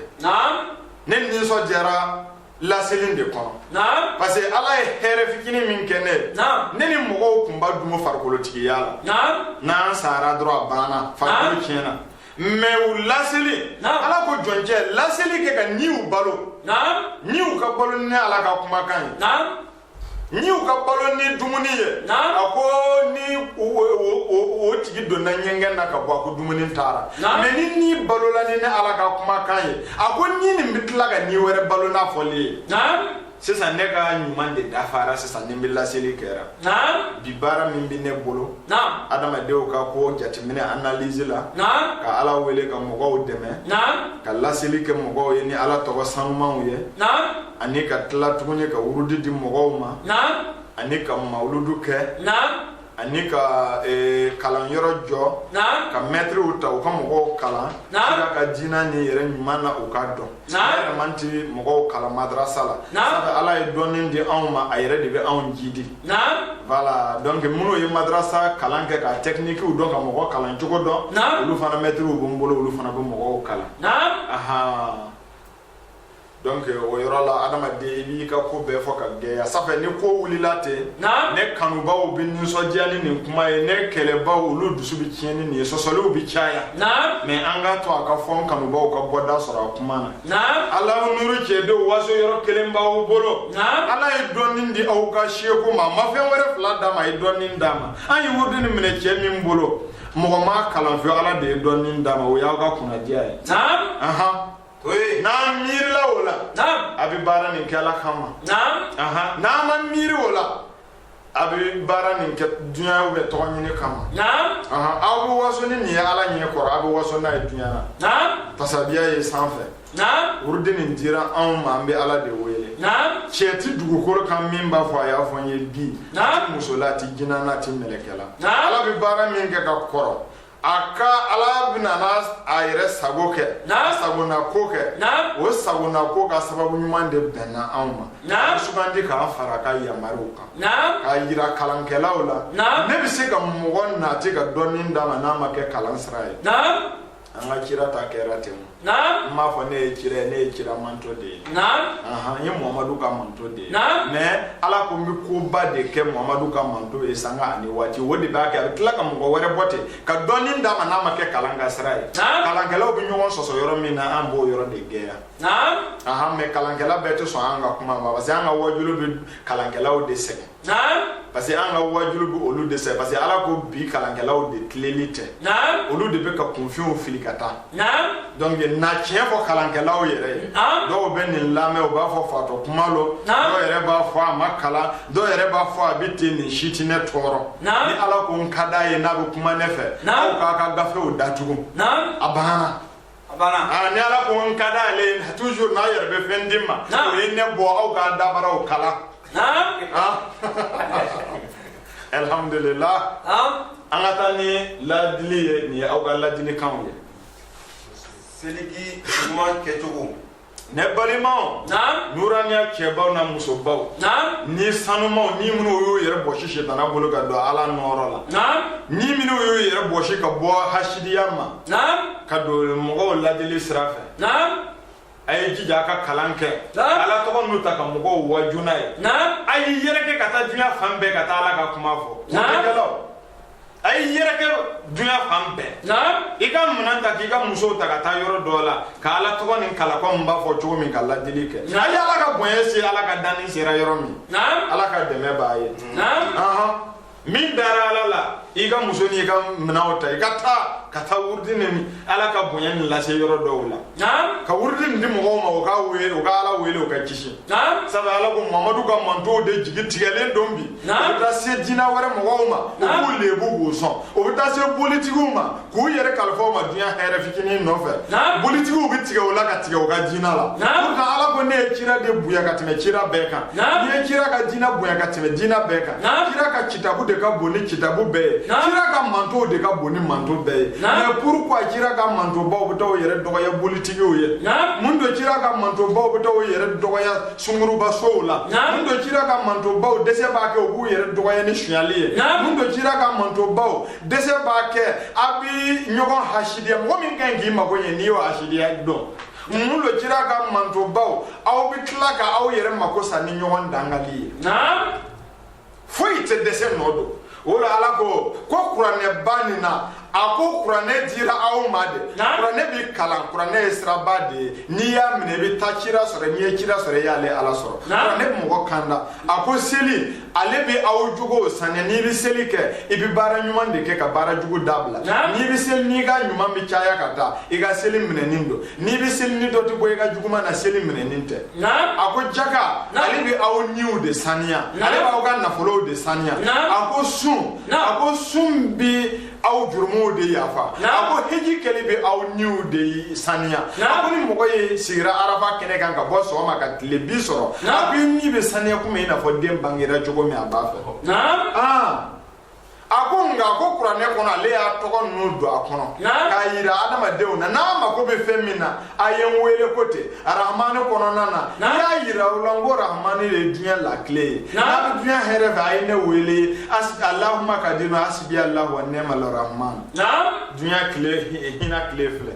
ne nisɔndiyara laseli de kɔnɔ parce que ala ye hɛrɛ fitinin min kɛ ne ne ni mɔgɔw kun b'a dun farikolotigiya la n'an sara dɔrɔn a banna farikolo tiɲɛna mais u laseli ala ko jɔncɛ laseli kɛ ka niw balo niw ka balo ni ala ka kumakan ye niw ka balo ni dumuni ye a ko ni o tigi donna ɲɛgɛn na ka bɔ a ko dumuni taara mais ni ni balola ni ni ala ka kumakan ye a ko ni nin bɛ tila ka ni wɛrɛ balo n'a fɔli ye sisan ne ka ɲuman de dafara sisan ni n bɛ laseli kɛra naam bi baara min bɛ ne bolo naam adamadenw ka ko jateminɛ analyse la naam ka ala wele ka mɔgɔw dɛmɛ naam ka laseli kɛ mɔgɔw ye ni ala tɔgɔ sanumanw ye naam ani ka tila tuguni ka wurudi di mɔgɔw ma naam ani ka mawuludu kɛ naam ani ka eh, kalanyɔrɔ jɔ ka mɛtiriw ta u ka mɔgɔw kalan kira ka diina nin yɛrɛ ɲuman na u k'a dɔn ne yɛrɛ man ti mɔgɔw kalan madrasa la sabu ala ye dɔnni di anw ma a yɛrɛ de bɛ anw jidi voilà donc minnu ye madrasa kalan kɛ ka tɛkinikiw dɔn ka mɔgɔ kalan cogo dɔn olu fana mɛtiriw bɛ n bolo olu fana bɛ mɔgɔw kalan donc o yɔrɔ la adamaden i b'i ka ko bɛɛ fɔ ka gɛlɛya sanfɛ ni ko wulila ten ne kanubaw bɛ nisɔndiya ni nin kuma ye ne kɛlɛbaw olu dusu bɛ tiɲɛ ni nin ye sɔsɔliw bɛ caya mais an k'a to a ka fɔ n kanubaw ka bɔda sɔrɔ a kuma na ala nuru cɛdenw waso yɔrɔ kelen b'aw bolo ala ye dɔnni di aw ka seku ma a ma fɛn wɛrɛ fila d'a ma a ye dɔnni d'a ma an ye wurudi nin minɛ cɛ min bolo mɔgɔ m'a kalan fo ala de ye dɔnni d'a ma o y'aw ka kunnadiya ye n'an miirila o la a bɛ baara nin kɛ ala kama n'an ma miiri o la a bɛ baara nin kɛ dunya bɛ tɔgɔ ɲini kama aw bɛ waso ni nin ye ala ɲɛ kɔrɔ aw bɛ waso n'a ye dunya na tasabiya ye sanfɛ wurudi nin dira anw ma an bɛ ala de wele cɛ ti dugukolo kan min b'a fɔ a y'a fɔ n ye bi a ti muso la a ti jinɛ na a ti mɛlɛkɛ la ala bɛ baara min kɛ ka kɔrɔ a ka ala bɛna na a yɛrɛ sago kɛ sagona ko kɛ o sagona ko ka sababu ɲuman de bɛnna anw ma sugandi k'an fara a ka yamaruw kan k'a yira kalankɛlaw la ne bɛ se ka mɔgɔ nati ka dɔnni d'a ma n'a ma kɛ kalan sira ye an ka kira ta kɛra ten Naam. N m'a fɔ ne ye kira ye ne ye kira manto de ye. Naam. Ahan n ye Muhamadu ka manto de ye. Naam. Mais Ala ko n bɛ koba de kɛ Muhamadu ka manto ye sanga ani waati o de b'a kɛ a bɛ tila ka mɔgɔ wɛrɛ bɔ ten ka dɔnni d'a ma n'a ma kɛ kalan ka sira ye. Naam. Kalankɛlaw bɛ ɲɔgɔn sɔsɔ yɔrɔ min na an b'o yɔrɔ de gɛlɛya. Naam. Ahan mais kalankɛla bɛɛ tɛ sɔn an ka kuma ma parce que an ka wajuliw bɛ kalankɛlaw de sɛgɛn. parce que an ka wajulu bɛ olu de sɛ parce que ala ko bi kalankɛlaw de tilennen tɛ olu de bɛ ka kunfinw fili ka taa donc n na tiɲɛ fɔ kalankɛlaw yɛrɛ ye dɔw bɛ nin lamɛn u b'a fɔ fatɔ kuma lo dɔw yɛrɛ b'a fɔ a ma kalan dɔw yɛrɛ b'a fɔ a bɛ ten nin si tɛ ne tɔɔrɔ ni ala ko n ka d'a ye n'a bɛ kuma ne fɛ aw k'aw ka gafew datugu a banna Ah, ni ala ko n ka di ale ye toujours n'a yɛrɛ bɛ fɛn di n ma o ye ne bɔ aw ka dabaraw kalan alhamdulilah an ka taa ni ladili ye nin ye aw ka ladilikanw ye seli kɛ ɲuman kɛcogo ne balimaw naam nuraniya cɛbaw na musobaw naam ni sanumaw ni minnu y'u yɛrɛ bɔsi sitana bolo ka don ala nɔɔrɔ la naam ni minnu y'u yɛrɛ bɔsi ka bɔ hasidiya ma naam ka don mɔgɔw ladili sira fɛ naam a ye jija a ka kalan kɛ ala tɔgɔ ninnu ta ka mɔgɔw waaju n'a ye a y'i yɛrɛkɛ ka taa diɲɛ fan bɛɛ ka taa ala ka kuma fɔ a y'i yɛrɛkɛ dunya fan bɛɛ i ka minɛn ta k'i ka musow ta ka taa yɔrɔ dɔ la ka ala tɔgɔ nin kalan komi n b'a fɔ cogo min ka ladili kɛ a ye ala ka bonya se ala ka danni sera yɔrɔ min ala ka dɛmɛ bɛ yen min dara ala la i ka muso n'i ka minɛnw ta i ka taa ka taa wurudi ni ala ka bonya nin lase yɔrɔ dɔw la ka wurudi nin di mɔgɔw ma u ka wele u ka ala wele u ka kisi Naam. sabu ala ko mamadu ka mantow de jigi tigɛlen don bi o Naam. bɛ taa se diina wɛrɛ mɔgɔw ma u Naam. b'u lebu k'u sɔn o bɛ taa se bolitigiw ma k'u yɛrɛ kalifa o ma diɲɛ hɛrɛ fitinin nɔfɛ Naam. bolitigiw bɛ tigɛ o la ka tigɛ u ka diina la Naam. Pourtant, ala ko ne ye kira de bonya ka tɛmɛ kira bɛɛ kan Naam. ne ye kira ka diina bonya ka tɛmɛ diina bɛɛ kan Naam. kira ka kitabu de ka bon ni kitabu bɛɛ ye Naam. kira ka mantow de ka bon ni manto bɛɛ ye Naam. mais pourquoi kira ka mantobaw bɛ taa o yɛrɛ dɔgɔya bolitigi tigiw ye mun don cira ka mantobaw bɛ taa u yɛrɛ dɔgɔya sunguruba sow la mun don cira ka mantobaw dɛsɛ b'a kɛ u b'u yɛrɛ dɔgɔya ni sonyali ye mun don cira ka mantobaw dɛsɛ b'a kɛ a bi ɲɔgɔn hasidiya mɔgɔ min ka ɲi k'i mago ɲɛ n'i y'o hasidiya dɔn mun don cira ka mantobaw aw bɛ tila ka aw yɛrɛ mako sa ni ɲɔgɔn dangali ye foyi tɛ dɛsɛ nɔ don o la ala ko ko kuranɛba nin na a ko kuranɛ dira aw ma de kuranɛ bi kalan kuranɛ ye siraba de ye n'i y'a minɛ i bɛ taa cira sɔrɔ n'i ye cira sɔrɔ i y'ale ala sɔrɔ kuranɛ bɛ mɔgɔ kanda a ko seli ale bɛ aw jogow saniya n'i bɛ seli kɛ i bɛ baara ɲuman de kɛ ka baara jugu dabila n'i bɛ seli n'i ka ɲuman bɛ caya ka taa i ka seli minɛnen don n'i bɛ seli ni dɔ tɛ bɔ i ka juguman na seli minɛnen tɛ a ko jaka ale bɛ aw niw de saniya ale b'aw ka nafolow de saniya a ko sun a ko sun bɛ aw jurumuw de yafa a ko heji kɛli bɛ aw niw de saniya a ko ni mɔgɔ ye sigira arafa kɛnɛ kan ka bɔ sɔgɔma ka tilebin sɔrɔ a ko i ni bɛ saniya komi i n'a fɔ den bangera cogo min a b'a fɛ a ko nka ko kuranɛ kɔnɔ ale y'a tɔgɔ ninnu don a kɔnɔ k'a yira adamadenw na n'a mako bɛ fɛn min na a ye n wele ko ten arahamani kɔnɔna na n y'a yira u la n ko arahamani de ye diɲɛ lakile ye n'a bɛ diɲɛ hɛrɛ fɛ a ye ne wele alahuma ka di ma hasibi alahu wa nɛma larahamani diɲɛ kile hinɛ kile filɛ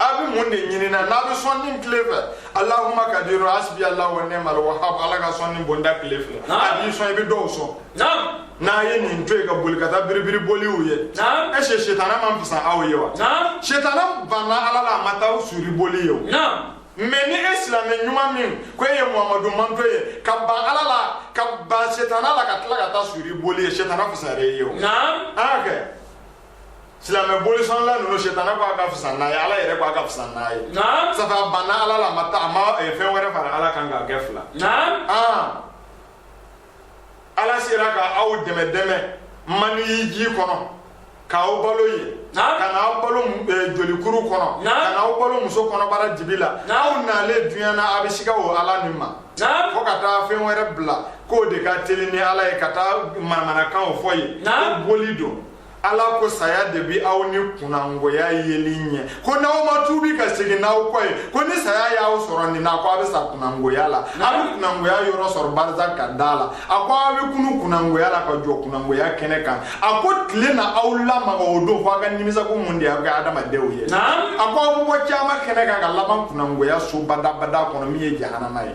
a bɛ mun de ɲini na n'a bɛ sɔnni tile fɛ alahuma kadiru hasibi ala wa nimal wahabu ala ka sɔnni bonda tile fɛ a b'i sɔn i bɛ dɔw sɔn n'a ye nin to yen ka boli ka taa biribiri boliw ye e se setana man fisa aw ye wa setana banna ala la a ma taa suri boli ye o mɛ ni e silamɛ ɲuman min ko e ye muhamadu mantɔn ye ka ban ala la ka ban setana la ka tila ka taa suri boli ye setana fisayara e ye o an y'a kɛ silamɛ bolisɔnla ninnu setana ko a ka fisa n'a ye ala yɛrɛ ko a ka fisa n'a ye safe a banna ala la a ma taa a ma eh, fɛn wɛrɛ fara ala kan k'a kɛ fila ah. ala sera ka aw dɛmɛ dɛmɛ maniyi ji kɔnɔ k'aw balo yen ka n'aw balo eh, jolikuru kɔnɔ ka n'aw balo muso kɔnɔbara dibi la aw nalen duɲa na a bɛ siga o ala nin ma fo ka taa fɛn wɛrɛ bila k'o de ka teli ni ala ye ka taa manamanakanw fɔ ye ko boli don ala ko saya de bi aw ni kunnangoya yeli ɲɛ ko n'aw ma tuubi ka segin n'aw kɔ ye ko ni saya y'aw sɔrɔ nin na ko aw bɛ sa kunnangoya la aw bɛ kunnangoya yɔrɔ sɔrɔ barizaka da la a ko aw bɛ kunun kunnangoya la ka jɔ kunnangoya kɛnɛ kan a ko tile na aw lamaga o don fo aw ka nimisa ko mun de y'aw kɛ adamadenw ye a ko aw bɛ bɔ kiyama kɛnɛ kan ka laban kunnangoya so badabada kɔnɔ min ye jahanama ye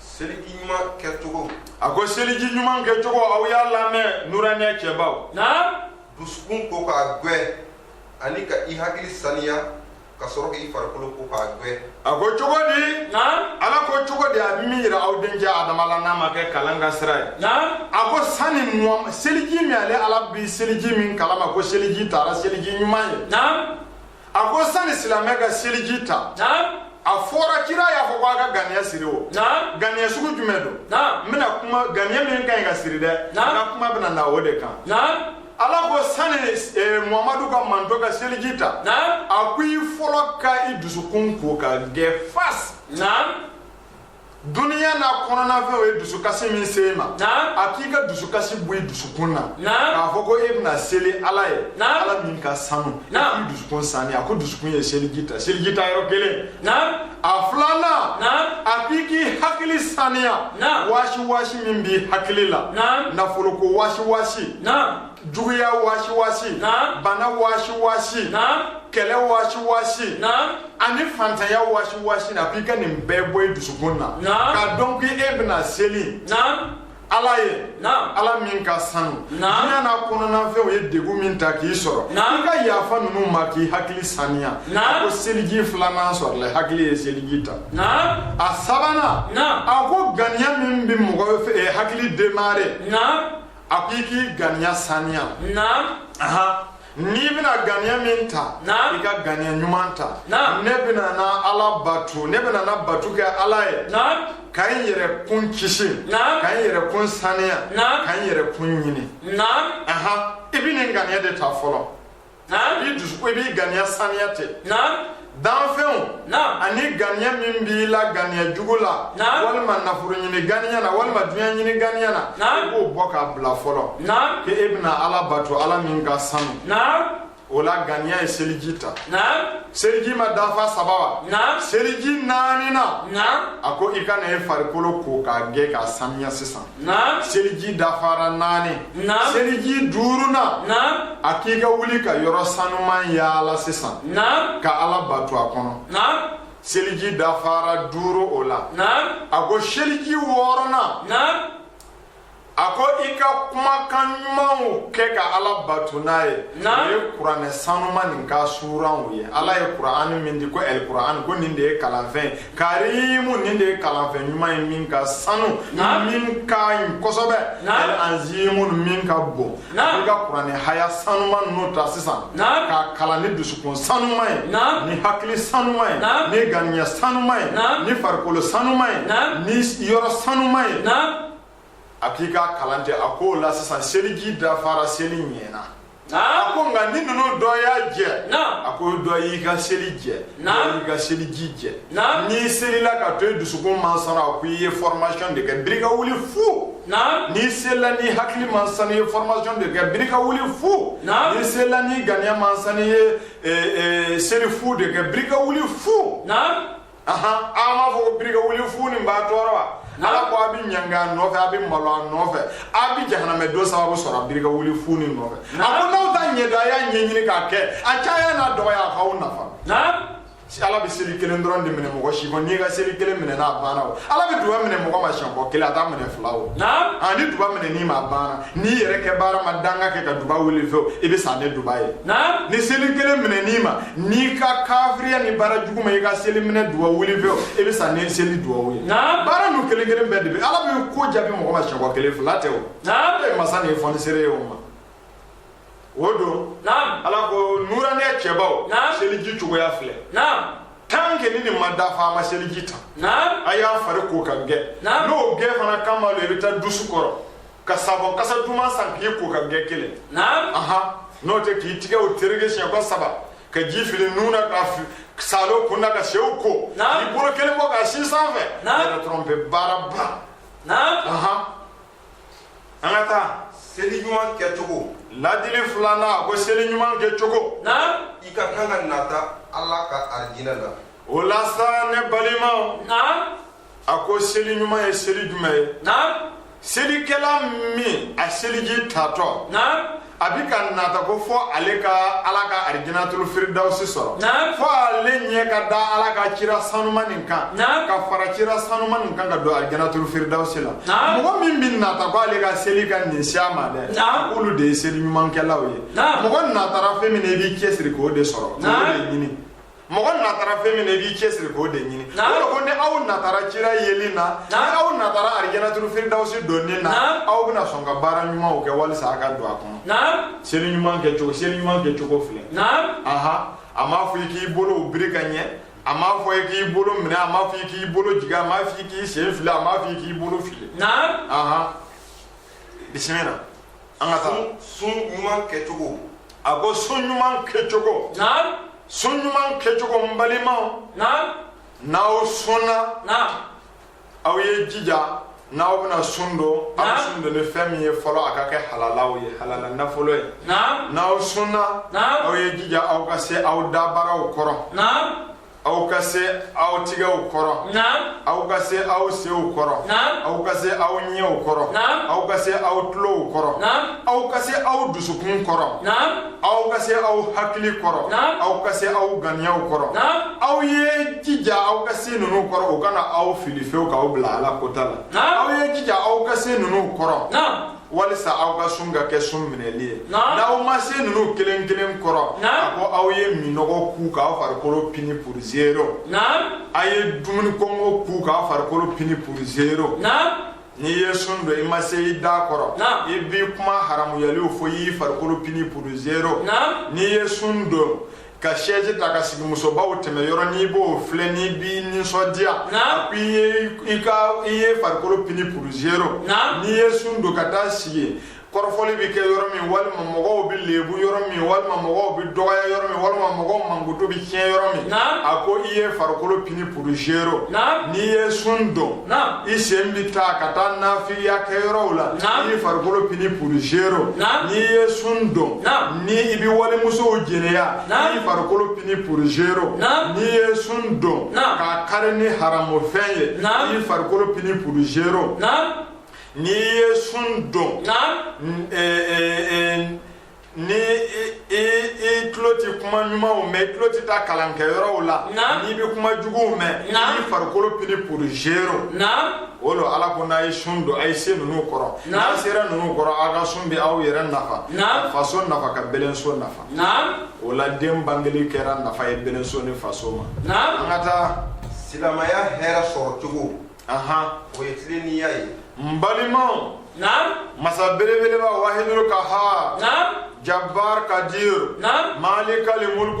seliji ɲuman kɛcogo a ko seliji ɲuman kɛcogo aw y'a lamɛn nuraniya cɛbaw naam dusukun ko k'a gwɛ ani ka i hakili saniya ka sɔrɔ k'i farikolo ko k'a gwɛ a ko cogo di naam ala ko cogo di a bɛ min yira aw denkɛ adama la n'a ma kɛ kalan ka sira ye naam a ko sani mɔgɔ seliji min ale ala bi seliji min kalama ko seliji taara seliji ɲuman ye naam a ko sani silamɛ ka seliji ta a fɔra kira y'a fɔ ko a ka ganiya siri o ganiya sugu jumɛn don n bɛna kuma ganiya min ka ɲi ka siri dɛ n ka kuma bɛna na o de kan ala ko sani eh, muhamadu ka mantɔn ka seliji ta a ko i fɔlɔ ka i dusukun ko k'a gɛ fasi duniya n'a kɔnɔnafɛnw ye dusukasi min se e ma a k'i ka dusukasi bɔ i dusukun na k'a fɔ ko e bɛna seli ala ye ala min ka sanu i k'i dusukun saniya a ko dusukun ye seliji ta seliji ta yɔrɔ kelen a filanan a k'i k'i hakili saniya wasiwasi min b'i hakili la nafoloko wasiwasi juguya wasiwasi bana wasiwasi kɛlɛ wasiwasi ani fantanya wasiwasi na k'i ka nin bɛɛ bɔ i dusukun na k'a dɔn k'i e bɛna seli ala ye ala min ka sanu diɲɛ n'a kɔnɔnafɛnw ye degun min ta k'i sɔrɔ i ka yafa ninnu ma k'i hakili saniya a ko seliji filanan sɔrɔla hakili ye seliji ta a sabanan a ko ganiya min bɛ mɔgɔ eh, hakili demare a ko i k'i ganiya saniya n'i bɛna ganiya min ta i ka ganiya ɲuman ta ne bɛna na ala bato ne bɛna na bato kɛ ala ye ka n yɛrɛ kun kisi ka n yɛrɛ kun saniya ka n yɛrɛ kun ɲini i bɛ nin ganiya de ta fɔlɔ i b'i dusu ko i b'i ganiya saniya tɛ danfɛnw ani ganiya min b'i la ganiya jugu la walima nafolo ɲini ganiya na walima dunya ɲini ganiya na i b'o bɔ k'a bila fɔlɔ ko e bɛna ala bato ala min ka sanu o la ganiya ye seliji ta seliji ma dafa saba wa seliji naaninan a ko i ka na e farikolo ko k'a gɛ k'a saniya sisan naam seliji dafara naani naam seliji duurunan naam a k'i ka wuli ka yɔrɔ sanuman yaala sisan naam ka ala bato a kɔnɔ naam seliji dafara duuru o la naam a ko seliji wɔɔrɔnan naam a ko i ka kumakan ɲumanw kɛ ka ala bato n'a ye o ye kuranɛ sanuma nin ka suranw ye ala ye kuran min di ko ɛl kuran ko nin de ye kalanfɛn karimu nin de ye kalanfɛn ɲuman ye min ka sanu min ka ɲi kosɛbɛ ɛl anzimu min ka bon i ka kuranɛ haya sanuma ninnu ta sisan k'a kalan ni dusukun sanuma ye ni hakili sanuma ye ni ganiya sanuma ye ni farikolo sanuma ye ni yɔrɔ sanuma ye a k'i k'a kalan ten a k'o la sisan seliji dafara seli ɲɛna a ko nka ni ninnu dɔ y'a jɛ a ko dɔ y'i ka seli jɛ y'i ka seliji jɛ n'i selila k'a to i dusukun man sanu a ko i ye fɔrɔmasiyɔn de kɛ birika wuli fu n'i selila n'i hakili man sanu i ye fɔrɔmasiyɔn de kɛ birika wuli fu n'i selila n'i ganiya man sanu i ye seli fu de kɛ birika wuli fu ahan a m'a fɔ ko birika wuli fu nin b'a tɔɔrɔ wa ala ko a bɛ ɲangi a nɔfɛ a bɛ malo a nɔfɛ a bɛ jahanamɛ don sababu sɔrɔ a birika wuli fu nin nɔfɛ a ko n'aw t'a ɲɛdɔn a y'a ɲɛɲini k'a kɛ a caya n'a dɔgɔya a k'aw nafa ala bɛ seli kelen dɔrɔn de minɛ mɔgɔ si kɔnɔ n'i ka seli kelen minɛ n'a banna o ala bɛ duba minɛ mɔgɔ ma siɲɛ ko kelen a t'a minɛ fila o ani duba minɛ n'i ma banna n'i yɛrɛ kɛbaara ma danga kɛ ka duba wuli fewu i bɛ sa ni duba ye ni seli kelen minɛ n'i ma n'i ka kafiriya ni baara jugu ma i ka seli minɛ duba wuli fewu i bɛ sa ni seli duba ye baara ninnu kelen kelen bɛɛ de bɛ ala bɛ ko jaabi mɔgɔ ma siɲɛ ko kelen fila tɛ o e masa nin ye fɔnisere ye o ma o don ala ko nuranɛ cɛbaw seliji cogoya filɛ tan ke ni nin ma dafa a ma seliji ta a y'a fari ko ka gɛ n'o gɛ fana kama lo i bɛ taa dusi kɔrɔ ka sabɔn kasa duman san k'i ko ka gɛ kelen n'o tɛ k'i tigɛ o tereke siɲɛ ko saba ka ji fili nun na ka salo kun na ka senw ko k'i bolo kelen bɔ ka sin sanfɛ yɛrɛ tɔrɔnpe baara ba an ka taa seli ɲuman kɛcogo ladili filanan a ko seli ɲuman kɛcogo i ka kan ka nata ala ka arijinɛ la o la sa ne balimaw a ko seli ɲuman ye seli jumɛn ye selikɛla min a seliji tatɔ a bɛ ka nata ko fɔ ale ka ala ka arijinatulu firidawusi sɔrɔ fɔ ale ɲɛ ka da ala ka kira sanuma nin kan ka fara kira sanuma nin kan ka don arijinatulu firidawusi la mɔgɔ min bɛ nata ko ale ka seli ka nin siya ma dɛ k'olu de ye seli ɲumankɛlaw ye mɔgɔ natara fɛn min na i b'i cɛsiri k'o de sɔrɔ k'o de ɲini mɔgɔ natara fɛn min na i b'i cɛsiri k'o de ɲini o de ko ni aw natara kira yeli na ni aw natara arijinatulu firidawusi donni na aw bɛna sɔn ka baara ɲumanw kɛ walisa a ka don a kɔnɔ seli ɲuman kɛcogo seli ɲuman kɛcogo filɛ aha a m'a fɔ i k'i bolow biri ka ɲɛ a m'a fɔ i k'i bolo minɛ a m'a fɔ i k'i bolo jigin a m'a fɔ i k'i sen fili a m'a fɔ i k'i bolo fili aha bisimila an ka taa sun ɲuman kɛcogo a ko sun ɲuman kɛcogo sun ɲuman kɛcogo n balimaw n'aw sunna aw ye jija n'aw bɛna sun don aw sun don ni fɛn min ye fɔlɔ a ka kɛ halalaw ye halala nafolo ye n'aw sunna aw ye jija aw ka se aw dabaraw kɔrɔ aw ka se aw tigɛw kɔrɔ aw ka se aw senw kɔrɔ aw ka se aw ɲɛw kɔrɔ aw ka se aw tulow kɔrɔ aw ka se aw dusukun kɔrɔ aw ka se aw hakili kɔrɔ aw ka se aw ganiyaw kɔrɔ aw ye jija aw ka se ninnu kɔrɔ u kana aw fili fewu k'aw bila ala kota la aw ye jija aw ka se ninnu kɔrɔ walisa aw ka sun ka kɛ sun minɛli ye n'aw ma se ninnu kelen kelen kɔrɔ a ko aw ye minnɔgɔ kun k'aw farikolo pini pour zero a ye dumuni kɔngɔ kun k'aw farikolo pini pour zero n'i ye sun don i ma se i da kɔrɔ i bɛ kuma haramuyaliw fɔ i y'i farikolo pini pour zero n'i ye sun don ka sɛzi ta ka sigi musobaw tɛmɛ yɔrɔ n'i b'o filɛ n'i b'i nisɔndiya a ko i ye i ka i ye farikolo pini pour zero n'i ye sun don ka taa sigi kɔrɔfɔli bɛ kɛ yɔrɔ min walima mɔgɔw bɛ lebu yɔrɔ min walima mɔgɔw bɛ dɔgɔya yɔrɔ min walima mɔgɔw mankutu bɛ tiɲɛ yɔrɔ min a ko i ye farikolo pini pour zero n'i ye sun don i sen bɛ taa ka taa nafigiya kɛ yɔrɔw la i ye farikolo pini pour zero n'i ye sun don ni i bɛ walimusow jɛnɛya i farikolo pini pour zero n'i ye sun don k'a kari ni haramufɛn ye i farikolo pini pour zero n'i ye sun don ni i tulo tɛ kuma ɲumanw mɛn i tulo tɛ taa kalankɛyɔrɔw la n'i bɛ kuma juguw mɛn i farikolo pini pour zero o lo ala ko n'a ye sun don a ye se ninnu kɔrɔ n'a sera ninnu kɔrɔ aw ka sun bɛ aw yɛrɛ nafa faso nafa ka bɛlɛnso nafa o la den bangeli kɛra nafa ye bɛlɛnso ni faso ma an ka taa silamɛya hɛrɛ sɔrɔ cogo o ye tilennenya ye n balimaw masa belebeleba wahidul kahar jabbar kadir malikal mulk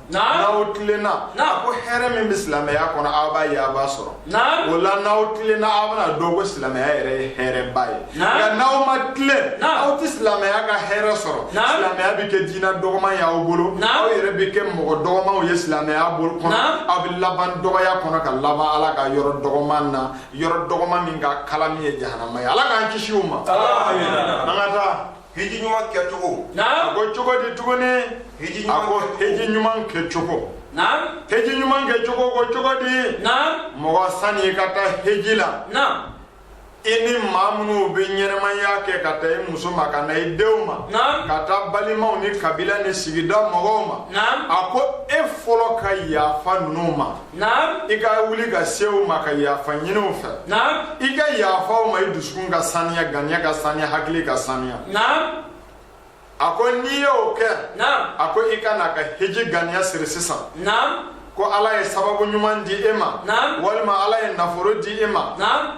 n'aw tilenna ko hɛrɛ min bɛ silamɛya kɔnɔ aw b'a ye aw b'a sɔrɔ o la n'aw tilenna aw bɛna dɔn ko silamɛya yɛrɛ ye hɛrɛba ye nka n'aw ma tilen aw tɛ silamɛya ka hɛrɛ sɔrɔ silamɛya bɛ kɛ diinɛ dɔgɔman ye aw bolo aw yɛrɛ bɛ kɛ mɔgɔ dɔgɔmanw ye silamɛya bolo kɔnɔ aw bɛ laban dɔgɔya kɔnɔ ka laban ala ka yɔrɔ dɔgɔman na yɔrɔ dɔgɔman min ka kalan min ye jahanama ye ala k'an kisi o ma an ka taa hiji ɲuman kɛcogo a ko cogo di tuguni a ko hiji ɲuman kɛcogo heji ɲuman kɛcogo ko cogo di mɔgɔ sani i ka taa heji la i ni maa minnu bɛ ɲɛnamaya kɛ k'a ta i muso ma ka na i denw ma ka taa balimaw ni kabila ni sigida mɔgɔw ma a ko e fɔlɔ ka yafa ninnu ma Naam. I ka wuli ka se u ma ka yafa ɲini u fɛ. Naam. I ka yafa u ma i dusukun ka saniya, ganiya ka saniya, hakili ka saniya. Naam. A ko n'i y'o kɛ. Naam. A ko i ka na ka hiji ganiya siri sisan. Naam. Ko Ala ye sababu ɲuman di e ma. Naam. Walima Ala ye nafolo di e ma. Naam.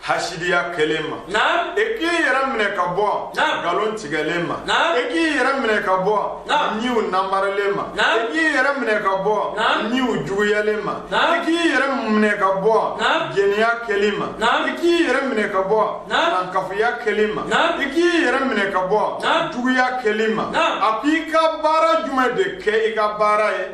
hasidiya kɛlen ma naam e k'i yɛrɛ minɛ ka bɔ naam nkalon tigɛlen ma naam e k'i yɛrɛ minɛ ka bɔ naam niw namaralen ma naam e k'i yɛrɛ minɛ ka bɔ naam niw juguyalen ma naam e k'i yɛrɛ minɛ ka bɔ naam jɛniya kɛli ma naam e k'i yɛrɛ minɛ ka bɔ naam nankafuya kɛli ma naam e k'i yɛrɛ minɛ ka bɔ naam juguya kɛli ma naam a ko i ka baara jumɛn de kɛ i ka baara ye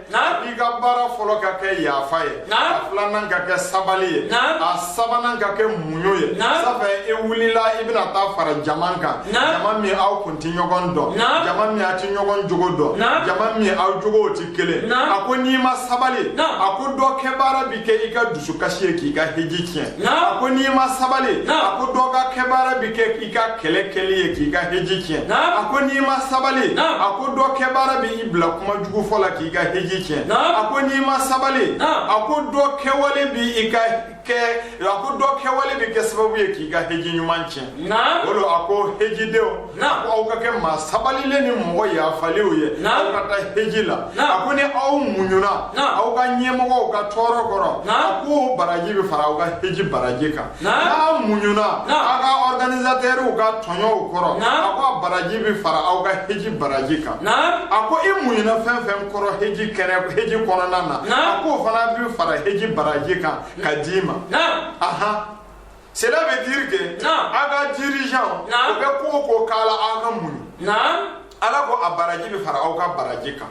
i ka baara fɔlɔ ka kɛ yafa ye a filanan ka kɛ sabali ye a sabanan ka kɛ muɲu ye safɛ i wulila i bɛna taa fara jama kan jama min aw kun ti ɲɔgɔn dɔn jama min a ti ɲɔgɔn jogo dɔn jama min aw jogow ti kelen a ko n'i ma sabali a ko dɔ kɛ baara bi kɛ i ka dusukasi ye k'i ka heji tiɲɛ a ko n'i ma sabali a ko dɔ ka kɛ baara bi kɛ i ka kɛlɛ kɛli ye k'i ka heji tiɲɛ a ko n'i ma sabali a ko dɔ kɛ baara bi bila kuma jugu fɔ la k'i ka heji tiɲɛ a ko n'i ma sabali a ko dɔ kɛwale bi i ka kɛ a ko dɔ kɛwale bi kɛ sababu ye k'i ka heji ɲuman tiɲɛ o lo a ko hejidenw a ko aw ka kɛ maa sabalilen ni mɔgɔ yafalenw ye aw ka taa heji la a ko ni aw muɲuna aw ka ɲɛmɔgɔw ka tɔɔrɔ kɔrɔ a ko baraji bɛ fara aw ka heji baraji kan n'a muɲuna aw ka ɔrganizatɛriw ka tɔɲɔw kɔrɔ a ko a baraji bɛ fara aw ka heji baraji kan a ko i muɲuna fɛn fɛn kɔrɔ heji kɔnɔna na a k'o fana bɛ fara heji baraji kan ka d'i ma Cela veut dire que a ka dirigeant u bɛ ko o ko k'a la an ka muɲu Ala ko a baraji bɛ fara aw ka baraji kan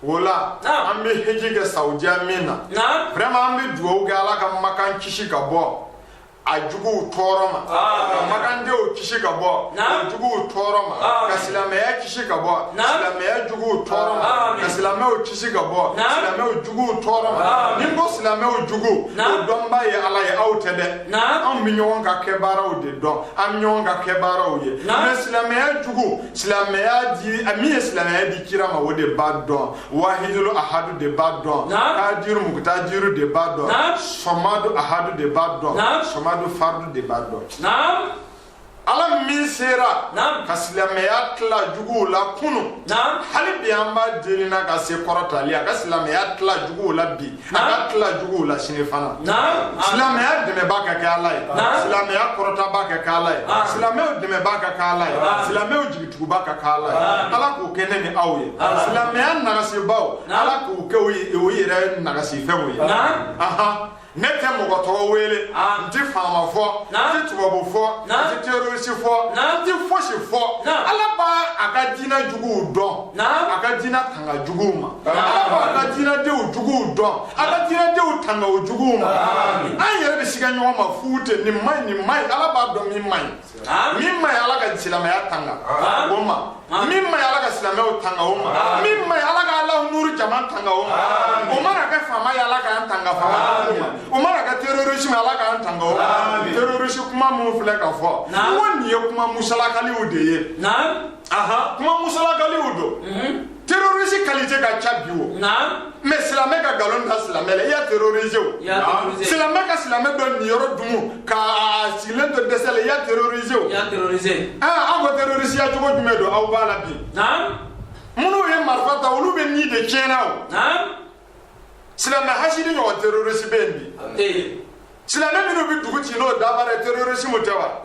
o la an bɛ heji kɛ saudiya min na vraiment an bɛ dugawu kɛ ala ka makan kisi ka bɔ a juguw tɔɔrɔ ma ka makandenw kisi ka bɔ juguw tɔɔrɔ ma ka silamɛya kisi ka bɔ silamɛya juguw tɔɔrɔ ma ka silamɛw kisi ka bɔ silamɛw juguw tɔɔrɔ ma n'i ko silamɛw jugu o dɔnba ye ala ye aw tɛ dɛ anw bɛ ɲɔgɔn ka kɛbaaraw de dɔn an bɛ ɲɔgɔn ka kɛbaaraw ye mais silamɛya jugu silamɛya di min ye silamɛya di kira ma o de b'a dɔn wahidulu ahadu de b'a dɔn kadiru mukutadiru de b'a dɔn sɔmadu ahadu de b'a dɔn sɔmadu fardu de b'a dɔn ala min sera ka silamɛya tila juguw la kunu hali bi an b'a deli n'a ka se kɔrɔtalen y'a ka silamɛya tila juguw la bi A ka tila juguw la sini fana silamɛya dɛmɛba ka kɛ ala ye silamɛya kɔrɔtaba ka kɛ ala ye silamɛw dɛmɛba ka kɛ ala ye silamɛw jigituguba ka kɛ ala ye ala k'o kɛ ne ni aw ye silamɛya nagasibaw ala k'u kɛ u yɛrɛ nagasifɛnw ye aɔn ne tɛ mɔgɔ tɔgɔ wele n tɛ faama fɔ n tɛ tubabu fɔ n tɛ terorisi fɔ n tɛ fosi fɔ ala b'a ka diinɛ juguw dɔn a ka diinɛ tanga juguw ma ala b'a ka diinɛdenw juguw dɔn a ka diinɛdenw tanga o juguw ma an yɛrɛ bɛ siga ɲɔgɔn ma fu ten nin ma ɲi nin ma ɲi ala b'a dɔn min ma ɲi min ma ɲi ala ka silamɛya tanga o ma min ma ɲi ala ka silamɛw tanga o ma min ma ɲi ala ka alahu nuru jama tanga o ma o mana kɛ faama ye ala k'an tanga faama o ma o mana kɛ terrorisme ala k'an tanga o ma terrorisme kuma minnu filɛ ka fɔ n ko nin ye kuma musalakaliw de ye aha kuma musalakaliw don mhm. terrorisi kalite ka ca bi o mais silamɛ ka nkalon da silamɛ la i y'a terrorise o silamɛ ka silamɛ dɔ niyɔrɔ dumu ka sigilen to dɛsɛ la i y'a terrorise o aw ko terrorisiya cogo jumɛn don aw b'a la bi minnu ye marifa ta olu bɛ ni de tiɲɛna o silamɛ hasidi ɲɔgɔn terrorisi bɛ yen bi silamɛ minnu bɛ dugu ci n'o dabara ye terrorisimu tɛ wa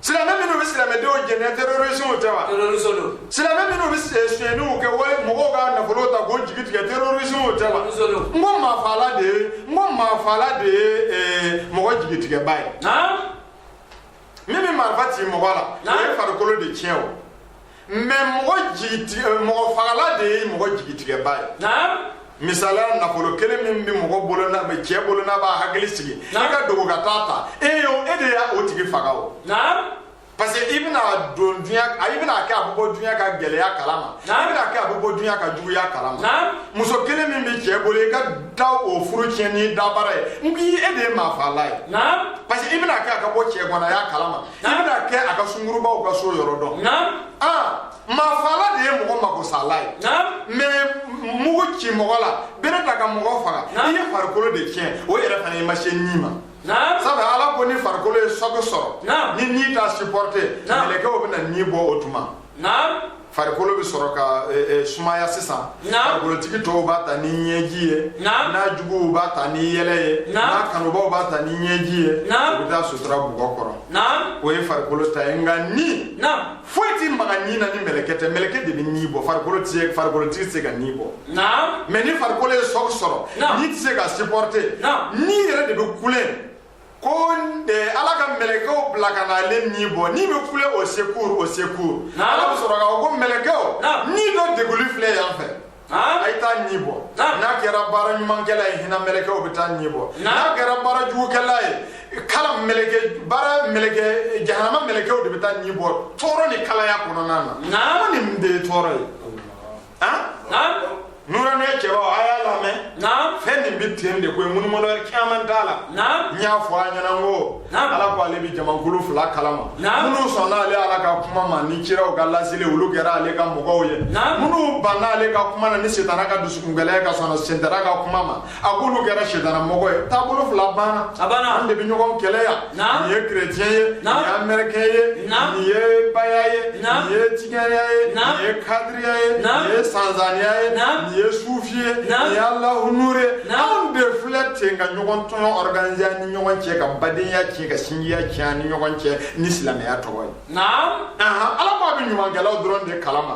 silamɛ minnu bɛ silamɛdenw jɛnɛ terorisimu tɛ wa terorisiw don silamɛ minnu bɛ sonyɛniw kɛ wali mɔgɔw ka nafolo ta k'o jigi tigɛ terorisimu tɛ wa n ko maafaala de ye mɔgɔ jigitigɛba ye min bɛ marifa ci mɔgɔ la o ye farikolo de tiɲɛ o mais mɔgɔ jigitigɛ mɔgɔ fagala de ye mɔgɔ jigitigɛba ye misaliya nafolo kelen min bɛ mɔgɔ bolo cɛ bolo n'a b'a hakili sigi i ka dogo ka taa ta e yo e de y'a o tigi faga o parce que i bɛna don dunya i bɛna kɛ a bɛ bɔ dunya ka gɛlɛya kalama i bɛna kɛ a bɛ bɔ dunya ka juguya kalama muso kelen min bɛ cɛ bolo i ka taa o furu tiɲɛ n'i dabara ye n k'i e de ye maa faala ye parce que i bɛna kɛ a ka bɔ cɛganaya kalama k'i bɛna kɛ a ka sungurubaw ka so yɔrɔ dɔn maafaala de ye mɔgɔ makosala ye mais mugu ci mɔgɔ la bere ta ka mɔgɔ faga i ye farikolo de tiɲɛ o yɛrɛ fana i ma se ni ma sabu ala ko ni farikolo ye sɔki sɔrɔ ni ni t'a supporter mɛlɛkɛw bɛna ni bɔ o tuma farikolo bɛ sɔrɔ ka sumaya sisan farikolotigi tɔw b'a ta ni ɲɛji ye n'a juguw b'a ta ni yɛlɛ ye n'a kanubaw b'a ta ni ɲɛji ye u bɛ taa sutura bugɔ kɔrɔ o ye farikolo ta ye nka ni foyi tɛ maga ni na ni mɛlɛkɛ tɛ mɛlɛkɛ de bɛ ni bɔ farikolo tɛ farikolotigi tɛ se ka ni bɔ mais ni farikolo ye sɔki sɔrɔ ni tɛ se ka supporter ni yɛrɛ de bɛ kule ko eh, ala ka mɛlɛkɛw bila ka na ale ni bɔ ni bɛ kule au secours au secours Naam. ala bɛ sɔrɔ ka fɔ ko mɛlɛkɛw Naam. ni dɔ deguli filɛ yan fɛ Naam. a ye taa ni bɔ Naam. n'a kɛra baara ɲumankɛla ye hinɛ mɛlɛkɛw bɛ taa ni bɔ Naam. n'a kɛra baara jugukɛla ye kala mɛlɛkɛ baara mɛlɛkɛ jahanama mɛlɛkɛw de bɛ taa ni bɔ tɔɔrɔ ni kalaya kɔnɔna na Naam. ko nin de ye tɔɔrɔ ye nuranya cɛbaw a y'a lamɛn fɛn nin bɛ ten de koyi munumunu wɛrɛ caman t'a la n y'a fɔ a ɲɛna ko ala ko ale bɛ jamakulu fila kalama minnu sɔnna ale ala ka kuma ma ni kiraw ka laseli olu kɛra ale ka mɔgɔw ye minnu banna ale ka kuma na ni sitana ka dusukungɛlɛya ka sɔn sitana ka kuma ma a k'olu kɛra sitana mɔgɔ ye taabolo fila banna a banna an de bɛ ɲɔgɔn kɛlɛ yan nin ye kerecɛn ye nin ye amɛrikɛn ye nin ye baya ye nin ye tijaniya ye nin ye kadiriya ye nin ye sanzaniya ye nin ye sufi ye nin ye alahu nure ye anw de filɛ ten ka ɲɔgɔn tɔɲɔ organiser ni ɲɔgɔn cɛ ka badenya tiɲɛ ka sinjiya tiɲɛ ni ɲɔgɔn cɛ ni silamɛya tɔgɔ ye ala ko a bɛ ɲumankɛlaw dɔrɔn de kalama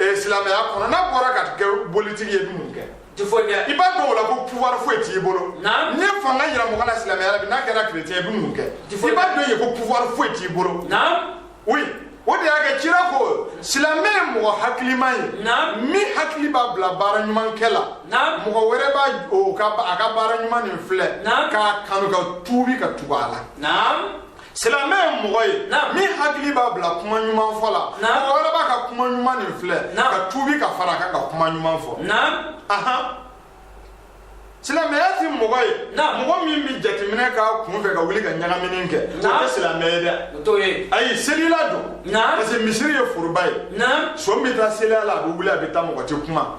ee silamɛya kɔnɔ n'a bɔra ka kɛ politiki ye i bɛ mun kɛ i ti foyi kɛ i b'a dɔn o la ko pouvoir foyi t'i bolo n'i ye fanga yira mɔgɔ la silamɛya la bi n'a kɛra chrétien ye i bɛ mun kɛ i b'a dɔn ye ko pouvoir foyi t'i bolo oui o de y'a kɛ cira ko silamɛ ye mɔgɔ hakiliman ye min hakili b'a bila baara ɲuman kɛ la mɔgɔ wɛrɛ b'a ka baara ɲuman nin filɛ k'a kanu ka tuubi ka tugu a la silamɛ ye mɔgɔ ye min hakili b'a bila kuma ɲuman fɔ la mɔgɔ wɛrɛ b'a ka kuma ɲuman nin filɛ ka tuubi ka fara a kan ka kuma ɲuman fɔ silamɛya ti mɔgɔ ye mɔgɔ min bɛ jateminɛ k'a kun fɛ ka wuli ka ɲagamini kɛ o tɛ silamɛ ye dɛ ayi selila don parce que misiri ye foroba ye son bɛ taa seli a la a bɛ wuli a bɛ taa mɔgɔ tɛ kuma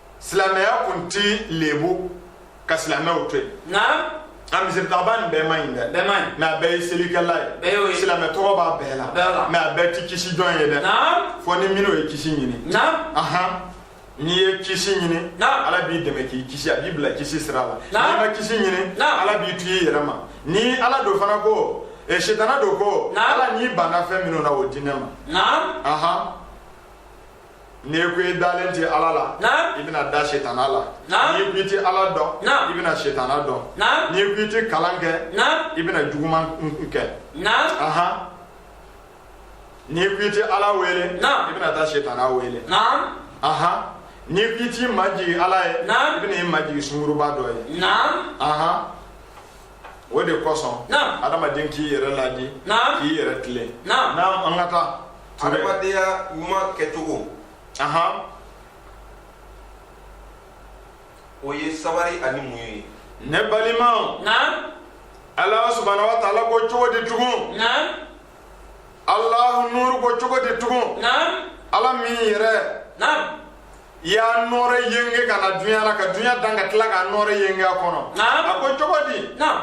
silamɛya kun ti lebu ka silamɛw to yen nka misiritaabaa nin bɛɛ man ɲi dɛ bɛɛ man ɲi mɛ a bɛɛ ye selikɛla ye bɛɛ y'o ye silamɛ tɔgɔ b'a bɛɛ la bɛɛ la mɛ a bɛɛ ti kisi jɔn ye dɛ fɔ ni minnu ye kisi ɲini ahan n'i ye kisi ɲini ala b'i dɛmɛ k'i kisi a b'i bila kisi sira la n'i ma kisi ɲini ala b'i to i yɛrɛ ma ni ala don fana ko e sitana don ko ala n'i banna fɛn minnu na o di ne ma ahan n'i ko i dalen tɛ ala la i bɛna da sitana la n'i ko i tɛ ala dɔn i bɛna sitana dɔn n'i ko i tɛ kalan kɛ i bɛna juguman kɛ n'i ko i tɛ ala wele i bɛna taa sitana wele n'i ko i t'i majigin ala ye i bɛna i majigin sunguruba dɔ ye o de kosɔn adamaden k'i yɛrɛ ladi k'i yɛrɛ tilen naam an ka taa adamadenya ɲuman kɛcogo o ye sabari ani muɲu ye ne balimaw ala subahana wa taala ko cogo di tugun alahu nuuru ko cogo di tugun naam ala min yɛrɛ naam y'a nɔɔrɛ yenge ka na dunya la ka dunya dan ka tila k'a nɔɔrɛ yenge a kɔnɔ naam a ko cogo di naam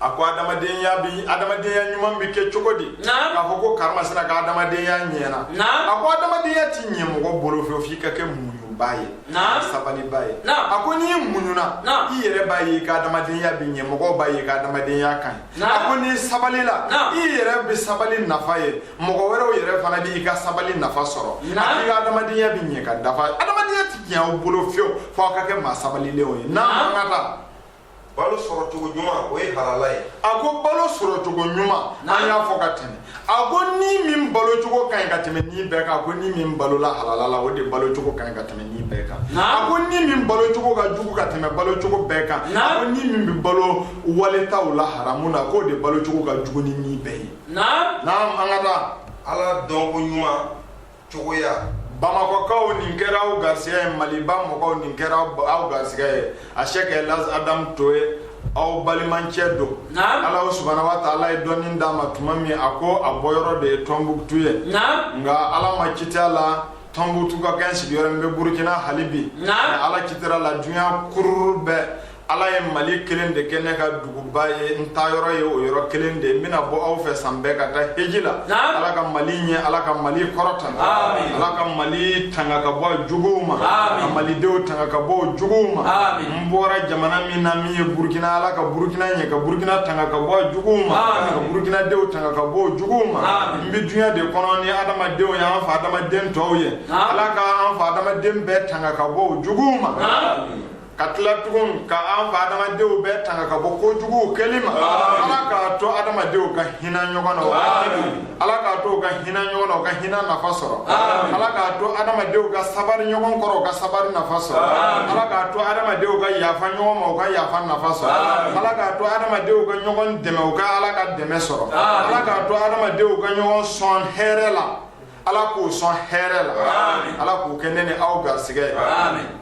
a ko adamadenya bi adamadenya ɲuman bi kɛ cogo di naam k'a fɔ ko karamasina ka adamadenya ɲɛna naam a ko adamadenya ti ɲɛ mɔgɔ bolo fɛ f'i ka kɛ muɲuba ye naam sabaliba ye naam a ko n'i muɲuna naam i yɛrɛ b'a ye i ka adamadenya bi ɲɛ mɔgɔw b'a ye i ka adamadenya ka ɲi a ko n'i sabalila i yɛrɛ bɛ sabali nafa ye mɔgɔ wɛrɛw yɛrɛ fana b'i ka sabali nafa sɔrɔ a k'i ka adamadenya bɛ ɲɛ ka dafa adamadenya tɛ ɲɛ aw bolo fiyewu fo aw ka kɛ maa sabalilenw ye naam an ka taa balo sɔrɔcogo ɲuman o ye halala ye a ko balo sɔrɔcogo ɲuman an y'a fɔ ka tɛmɛ a ko ni min balo cogo ka ɲi ka tɛmɛ ni bɛɛ kan a ko ni min balola halala la o de balo cogo ka ɲi ka tɛmɛ ni bɛɛ kan a ko ni min balo cogo ka jugu ka tɛmɛ balo cogo bɛɛ kan a ko ni min bɛ balo waletaw la haramu na k'o de balo cogo ka jugu ni ni bɛɛ ye naam an ka taa ala dɔnko ɲuman cogoya bamakɔkaw nin kɛra aw garisɛgɛ ye maliba mɔgɔw nin kɛra aw garisɛgɛ ye asɛkɛ laji adamu toye aw balimancɛ don ala subahana wa taala ye dɔnni d'a ma tuma min a ko a bɔyɔrɔ de ye tɔnbukutu ye nka ala ma citi a la tɔnbukutu ka kɛ sigiyɔrɔ n bɛ burukina hali bi ala citira la dunya kururu bɛɛ Ala ye Mali kelen de kɛ ne ka duguba ye n taa yɔrɔ ye o yɔrɔ kelen de ye n bɛna bɔ aw fɛ san bɛɛ ka taa heji la Naamu Ala ka Mali ɲɛ Ala ka Mali kɔrɔta Aamine Ala ka Mali tanga ka bɔ a juguw ma Aamine ka Malidenw tanga ka bɔ o juguw ma Aamine n bɔra jamana min na min ye Burukina Ala ka Burukina ɲɛ ka Burukina tanga ka bɔ a juguw ma Aamine ka Burukinadenw tanga ka bɔ o juguw ma Aamine n bɛ duɲa de kɔnɔ ni adamadenw ye an fa Adama den tɔw ye Naamu Ala ka an fa Adama den bɛɛ tanga ka bɔ o juguw ma Aamine ka tila tugun ka an fa adama denw bɛɛ tanga ka bɔ kojuguw kɛli ma ala k'a to adamadenw ka hinɛ ɲɔgɔn na ala k'a to u ka hinɛ ɲɔgɔn na u ka hinɛ nafa sɔrɔ ala k'a to adamadenw ka sabari ɲɔgɔn kɔrɔ u ka sabari nafa sɔrɔ ala k'a to adamadenw ka yafa ɲɔgɔn ma u ka yafa nafa sɔrɔ ala k'a to adamadenw ka ɲɔgɔn dɛmɛ u ka ala ka dɛmɛ sɔrɔ ala k'a to adamadenw ka ɲɔgɔn sɔn hɛrɛ la ala k'u sɔn hɛrɛ la ala k'o kɛ ne ni aw garisɛgɛ ye